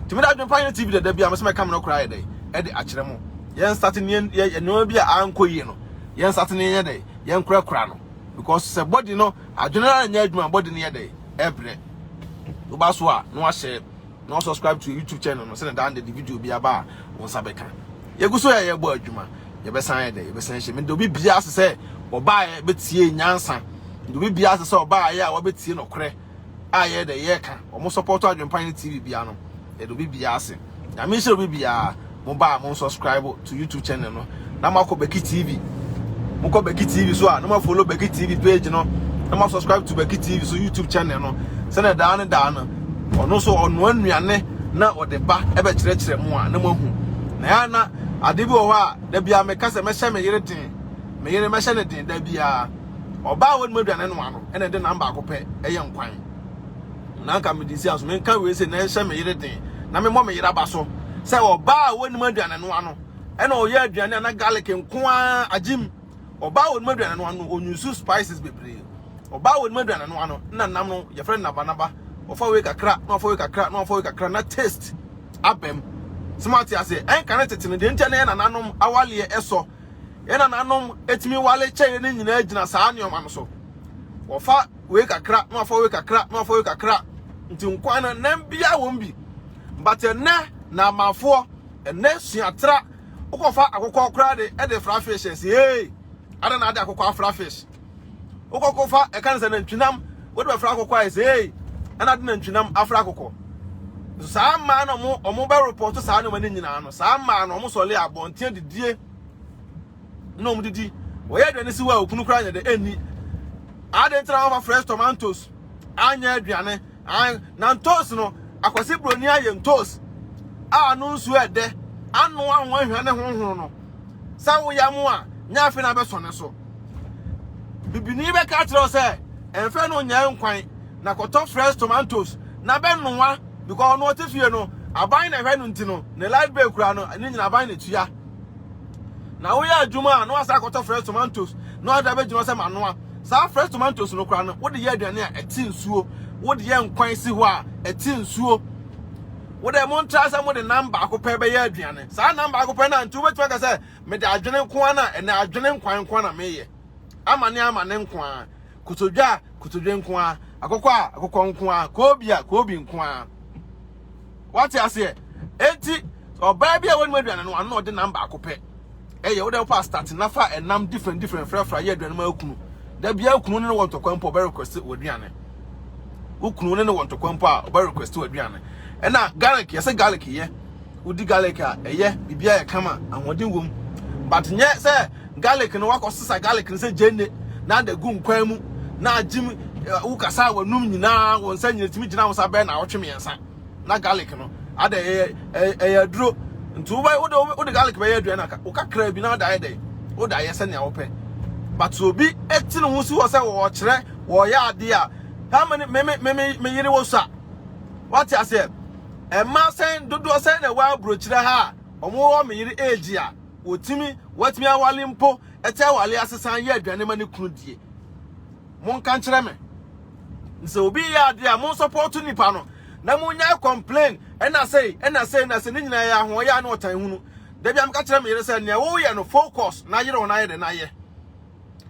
Tumi da adwene pa yɛ TV dada bi a, mo sɛ mɛka me no koraa yɛ dɛ, ɛde akyerɛ mo. yɛn nsate ne yɛn nneɛma bi a ankɔ yie no yɛn nsate ne yɛnyɛ dɛ yɛn korakora no because sɛ body no adwene na nyɛ adwuma body no yɛ dɛ ɛbrɛ woba so a na wahyɛ na wa subscribe to youtube channel no sɛ dan de video bi aba a wɔn nsa bɛka yɛgu so yɛ yɛbɔ adwuma yɛbɛsan yɛ dɛ yɛbɛsan hyɛ mede obi bia ase sɛ ɔbaa yɛ bɛtie nyansa mede obi bia ase sɛ ɔbaa yɛ a wɔbɛtie nɔkorɛ a yɛyɛ dɛ yɛka wɔn sɔpɔto adwenpan ne TV bia no yɛde obi bia ase nyame nhyɛ obi bia mo ba a mo subscribe to YouTube channel no na mo akɔ Beki TV mo kɔ Beki TV so a na mo follow Beki TV page no na mo subscribe to Beki TV so YouTube channel no sɛnɛ daa ne daa no ɔno so ɔnoa nnuane na ɔde ba ɛbɛkyerɛkyerɛ mo a na mo ahu na ya na ade bi wɔ hɔ a da bia meka sɛ mɛhyɛ me yere den me yere mɛhyɛ ne den da bia Ɔbaa a wɔnom aduane noa no na ɛde nam baako pɛ yɛ nkwan. Na anka mede nsi aso menka wei sei na ɛhyɛ me yere den na memmɔ me yere aba so sɛ ɔbaa a wɔnom aduane noa no na ɔyɛ aduane a na garlic nko ara agyem. Ɔbaa a wɔnom aduane noa no ɔnyusu spices bebree. Ɔbaa a wɔnom aduane noa no na nam no yɛfrɛ no nabanaba. Ɔfa wei kakra na ɔfa wei kakra na ɔfa wei kakra na taste abam. Sɛ moate aseɛ ɛnka ne tete no deɛ nti na yɛ nananom awaleɛ ɛsɔ Yɛn nananom tumi wale kyɛeɛ no nyinaa gyina saa nneɛma no so. Wɔfa wei kakra na wɔafa wei kakra na wɔafa wei kakra nti nkwan no nam biara wɔm bi. But ɛnɛ na amanfoɔ ɛnɛ suatra wokɔfa akokɔ koraa de ɛde fra fish ɛsi ee ada na ade akokɔ afra fish. Wokɔ kɔ fa ɛka ne sɛ nantwinam wode bɛfra akokɔ ayɛ sɛ ei ɛna ade nantwinam afra akokɔ. So saa mmaa na ɔmo ɔmo bɛ report saa nneɛma ne nyinaa no saa mmaa no ɔmo sɔle abɔnten didie na ɔmo didi wɔyɛ aduane si hɔ a okunu koraa nyɛ dɛ ɛnni adeɛ ntina wɔfa fresh tomatoes anyɛ aduane an na ntoos no akwasi buroni ayɛ ntoos a ano nsuo ɛdɛ ano ahoa ahwa ne honhono no sɛ woyɛ mo a nyɛ afei na abɛsɔ ne so bibini bɛka akyerɛ wo sɛ ɛmfɛ no nyɛ nkwan na kɔtɔ fresh tomatoes na bɛnoa because ɔno ɔte fie no aban na ɛhwɛ no nti no ne light bill kura no ne nyina aban na tua na woyɛ adwuma a na wasa akɔtɔ fresh tomatoes na wada bɛgyina sɛ manoa saa fresh tomatoes no kura no wode yɛ aduane a ɛte nsuo wode yɛ nkwan si hɔ a ɛte nsuo wode mo ntra sɛ mode nam baako pɛ bɛyɛ aduane saa nam baako pɛ no a nti wobɛtumi aka sɛ Mede adwene nko ara na ɛnɛ adwene nkwan nko ara na meyɛ. Amane amane nko ara, kotodwe a kotodwe nko ara, akokɔ a akokɔ nko ara, koobi a koobi nko ara. Wate aseɛ? Enti ɔbaa bi a wɔnum aduane no ano na ɔde nam baako pɛ. Ɛyɛ wo dɛ wopɛ astate na fa ɛnam different different frafra yɛ aduane ma okunu. Da bi a kunu ne wɔ ntɔkwa mpo ɔbɛ request wɔ aduane. Wo kunu ne ne wɔ ntɔkwa mpo a ɔbɛ request wɔ aduane. Ɛna garlic yɛsɛ garlic yɛ. wodi garlic a ɛyɛ biribi a ɛkama ahoɔden wom but nyɛ sɛ garlic no wakɔsesa garlic no sɛ gyenne na ada gu nkwan mu na agyim eh, wokasa a wɔnum nyinaa wɔn nsa nyina tumi gyina wo sa bɛn na awɔtwe mmiɛnsa na garlic no ada ɛyɛ ɛyɛ- ɛyɛ aduro nti wobɛ wode wode- wode garlic bɛyɛ aduane aka wokakra bi na ada ayɛ dɛn wode ayɛ sɛnea wopɛ but obi ti ne ho si hɔ sɛ wɔkyerɛ wɔyɛ adeɛ a how many me me me me yere wɔ so a wate aseɛ Mmaa sɛn dodoɔ sɛn na ɛwɔ aburokyire ha a wɔwɔ me yere age a wɔtumi, wɔatumi awale mpo ɛte awale ase san yɛ aduane ma ne kunu die? Monka nkyerɛ me. Sɛ obi yɛ adeɛ a mo nsɔpɔto nipa no na monya complain ɛna sei ɛna sei ɛna sei ne nyinaa yɛ ahoɔyɛ a ne ɔtan hunu. Da bi a meka kyerɛ me yere sɛ nea woyɛ no focus na yere wo no ayɛ dɛ na yɛ.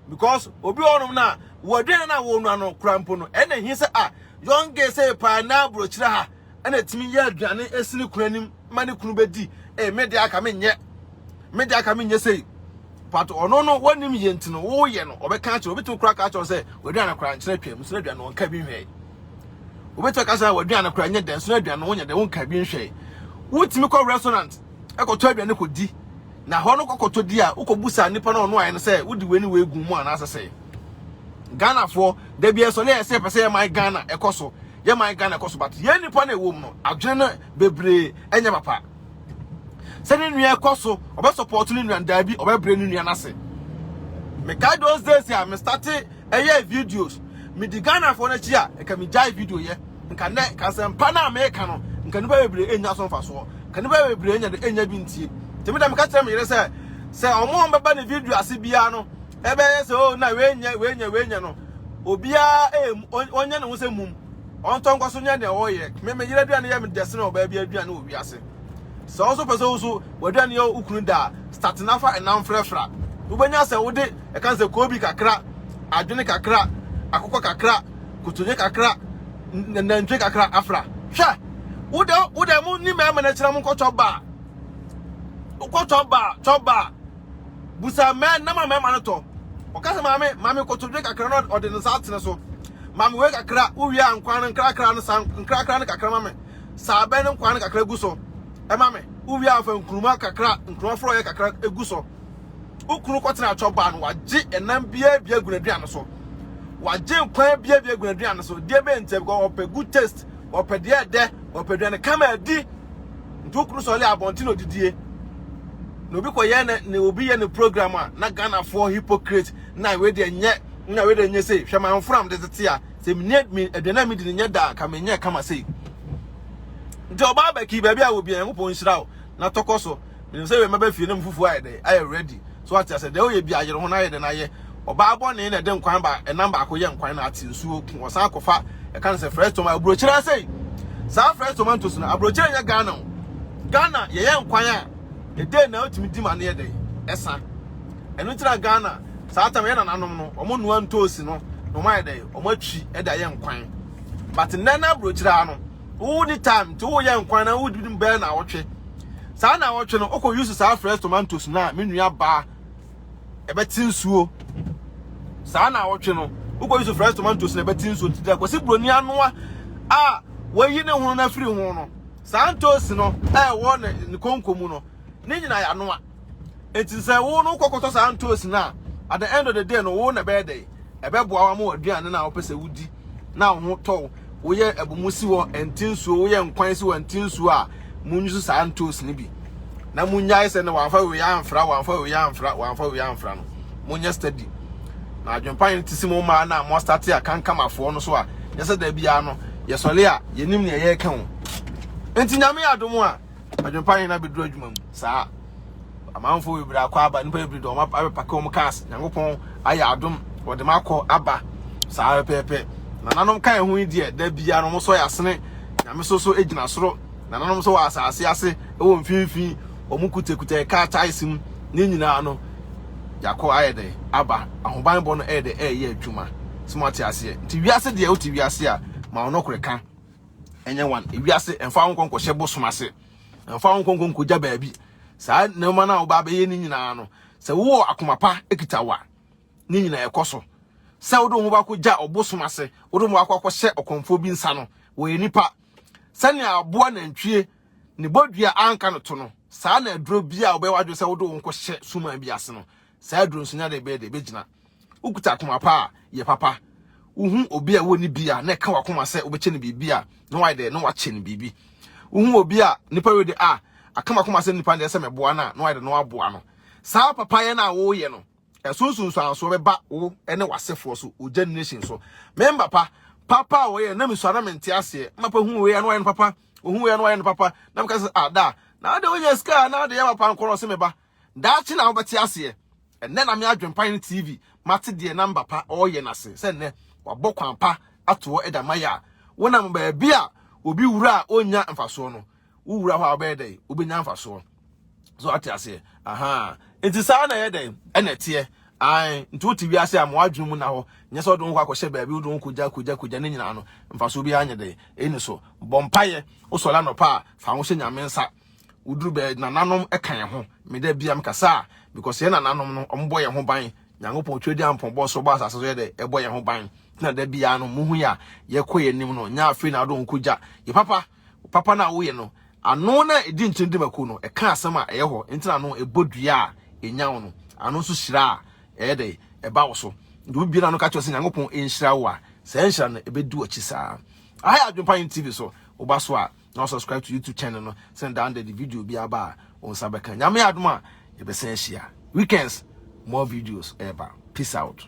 Because obi wɔ hɔnom no a wɔaduane no a wɔnua no kora mpo no ɛna ɛhi sɛ a young gay sɛ paa na aburokyire ha ɛna tumi yɛ aduane esi ne kunu anim ma ne kunu bɛdi ee me deɛ aka menyɛ me deɛ aka menyɛ sei but ɔno no wɔnim yɛ nti no woyɛ no ɔbɛka akyerɛ obi tumi kura ka akyerɛ sɛ waduane kora nkyerɛ atwam nso aduane wɔn ka bi nhwɛ obi tumi ka sɛ waduane kora nyɛ dɛ nso aduane wɔn nyɛ dɛ wɔn ka bi nhwɛ wotumi kɔ restaurant ɛkɔtɔ aduane kɔ di na hɔ no kɔkɔtɔ di a wokɔ busa nipa na ɔno ayɛ no sɛ wodi wei ne wei gu mu anaasɛ sɛ ghanafoɔ dabi ɛsɔ ne ɛsɛ pɛ sɛ yɛ man ghana ɛkɔ so yɛ man Ghana kɔ so but yɛn nipa na ɛwɔ mu no adwene no bebree ɛnyɛ papa sɛ ne nua ɛkɔ so ɔbɛ support ne nua daabi ɔbɛ brɛ ne nua n'ase mekae those days a me start ɛyɛ videos me di Ghana fo n'akyi a ɛka me gyae video yɛ nka nɛ kasɛmpa no a meka no nka nipa bebree ɛnya so mfasoɔ nka nipa bebree ɛnya de ɛnya bi ntie tèmi dɛm ka kyerɛ me yere sɛ sɛ ɔmo ɔmo bɛba ne video ase biara no Ɛbɛyɛ sɛ oh na wei nyɛ wei nyɛ wei nyɛ no obiara ɛyɛ ɔnyɛ ne ho sɛ mum ɔntɔ nkɔ so nyɛ deɛ ɔyɛ me me yere aduane yɛ me dɛsene ɔbaa bi aduane wɔ wiase sɛ ɔso pɛ sɛ wo so w'aduane yɛ wokunu da start na fa ɛnam frɛfra wobɛnya sɛ wode ɛka sɛ koobi kakra adwene kakra akokɔ kakra kotonye kakra nantwie kakra afra hwɛ wode wode mo ni mɛmɛ na kyerɛ mo nkɔ chop bar wokɔ chop bar chop bar bu saa mmɛn na ma mmarima no tɔ. Ɔka sɛ, Maame, ma me kotodwe kakra na ɔde ne nsa atene so. Ma me wei kakra, wowie a nkwan no nkrakra no saa nkrakra no kakra ma me. Saa bɛn no nkwan no kakra gu so ɛma me. Wowie a fa nkuruma kakra, nkuruma forɔeɛ kakra egu so. Wo kunu kɔtena atwɔ baa no, wagye ɛnam biara bi agu n'aduane so. Wagye nkwan biara bi agu n'aduane so. Deɛ bɛn ntia bi kɔ, ɔpɛ good taste, ɔpɛ deɛ ɛdɛ, ɔpɛ aduane kama adi. Nti wokunu sɔre a abɔnten na odidie na obi kɔ yɛ ne obi yɛ ne program a na Ghana for hypocrite na we de nyɛ na we de nyɛ sei hwɛ man fram de tete a sɛ me ne aduane a me di ne nyɛ da ka me nyɛ kama sei nti ɔbaa bɛki baabi a obi a Nyankopɔn nhyira wo na tɔkɔ so menim sɛ we mɛbɛ fie ne mfufuo ayɛ dɛ ayɛ ready So wate ase? Deɛ woyɛ bia yere ho na yɛ dɛn ayɛ. Ɔbaa bɔne na ɛde nkwan ba ɛnam baako yɛ nkwan na ate nsuo ko ɔsan akɔfa ɛka no sɛ fresh tomato aburokyire asɛi saa fresh tomatoes no aburokyire nyɛ Ghana o Ghana yɛyɛ nkwan a ɛdɛn na wotumi di ma no yɛ dɛn ɛsa ɛno nti na Ghana saa tam yɛ nananom no wɔn nnoa ntoosi no na wɔn ayɛ dɛn wɔn atwi ɛde ayɛ nkwan but nnɛ na aburokyire ano wo ni time nti wo yɛ nkwan na wo di mu bɛn na awɔtwe saa na awɔtwe no okɔ use saa fresh tomatoes na me nua baa ɛbɛte nsuo saa na awɔtwe no okɔ use fresh tomatoes na ɛbɛte nsuo nti dɛ kɔsi buroni anoa a wɔyi ne ho no afiri ho no saa ntoosi no ɛwɔ ne konko mu no ne nyina yanoa Enti sɛ wo no kɔkɔtɔ saa ntoosi no a, at the end of the day no wo na ɛbɛyɛ dɛ ɛbɛboa wa ma w'aduane no a wopɛ sɛ wodi na wo ho tɔw woyɛ abumu si hɔ ɛnti nsuo woyɛ nkwan si hɔ ɛnti nsuo a munnwusu saa ntoosi no bi na munnyae sɛ no wamfa wei amfra wamfa wei amfra wamfa wei amfra no monyɛ study na adwempa no te si mo mmaa no a moastate a kankamafoɔ no so a yɛ sɛ da biara no yɛsɔre a yɛnim neɛ yɛreka ho enti nyame adom a adwempa yɛn abɛduru adwuma mu saa amanfoɔ bebree akɔ aba nipa bebree de wɔn abɛpake wɔn cars nyankopɔn ayɛ adom wɔde ma akɔ aba saa pɛpɛpɛ nananom ka ɛho yi deɛ da biara wɔn sɔ yɛ asene nyame so so gyina soro nananom nso wɔ asase ase wɔ mfimfini wɔn kutakuta ɛka ataase mu ne nyinaa no yɛakɔ ayɛ dɛ aba ahobanbɔ no ɛyɛ dɛ ɛyɛ adwuma sɛ mo ate aseɛ nti wiase deɛ wote wiase a ma ɔno korɛ ka ɛnyɛ wan ewiase ɛmfa ho nkɔ nkɔhyɛ bosom ase ɛmfa ho nkɔ nkɔ nkɔgya baabi saa nneɛma no a wobaa bɛyɛ ne nyinaa no sɛ wowɔ akoma pa ekita wa ne nyinaa ɛkɔ so sɛ wode ho baako gya ɔbosom ase wode ho baako akɔhyɛ ɔkɔmfoɔ bi nsa no wɔyɛ nipa sɛnea aboa nantwie ne bɔdua anka no to no saa na aduro bi a wobɛyɛ wadwene sɛ wode wo nkɔhyɛ suman bi ase no saa aduro nso nya de bɛyɛ de bɛgyina Wokuta akoma pa a, yɛ papa. Wohu obi a wɔnni bi a, na ɛka w'akoma sɛ wobɛkyɛ no biribi a, na wayɛ dɛ, na wakyɛ no biribi. Wohu obi a nnipa wei de a, aka m'akoma sɛ nnipa deɛ sɛ mɛboa no a, na wayɛ dɛ, na waboa no. Saa papayɛ no a woreyɛ no, ɛso nsunsuansoɔ bɛba wo ne w'asefoɔ so, wo generation so. Me mma pa, papa a wɔyɛ no, na mesua na mente aseɛ. Me papa hu wei a, na wayɛ no papa. Ɔhu wei a, na wayɛ no papa. Na meka sɛ, ah, da a, na wode wonya sika a, na wode yɛ papa nko na ɔse me ba. Daakye na wobɛte aseɛ. Ɛnnɛ na me adwempa ne TV mate deɛ namba pa ɔreyɛ no ase sɛ nnɛ wabɔ kwan pa atoɔ da mayɛ a wonam baabi a obi wura a ɔnnya mfasoɔ no wowura hɔ a wobɛyɛ dɛn wobɛnya mfasoɔ so ate aseɛ aha nti saa na ɛyɛ dɛn ɛna ɛteɛ ae nti wote wiase a ma wadwene mu na hɔ nyɛ sɛ wode wo ho akɔhyɛ baabi wode wo kogya kogya kogya ne nyinaa no mfasoɔ bi anyɛ dɛn ɛni so bɔ mpayɛ wosɔre anɔpa a fa ho hyɛ nyame nsa Woduru bɛ nananom ka yɛn ho. Me da bia mekasa a because yɛn nananom no ɔmo bɔ yɛn ho ban. Nyankopɔn twɛdi ampɔn bɔ so bɔ asase so yɛ dɛ ɛbɔ yɛn ho ban. Tina da bia no muhu yɛ a yɛkɔ yɛn nim no nyɛ afei na ado nko gya. Yɛ papa papa no a woyɛ no ano na edi nkyene di mako no ɛka asɛm a ɛyɛ hɔ ntina no ɛbɔ dua a ɛnyaw no ano nso hyira a ɛyɛ dɛ ɛba wo so. Nti obi bia no ka kyerɛ sɛ Nyankopɔn nhyira wo a saa nhyira no ɛbɛdi wakyi saa. Aha yɛ Adwempa Yen TV so woba so a na wa subscribe to youtube channel no sɛ daa nda de video bi aba a wɔn nsa bɛka nyame adom a yɛbɛsan ahyia weekends more videos ɛɛba peace out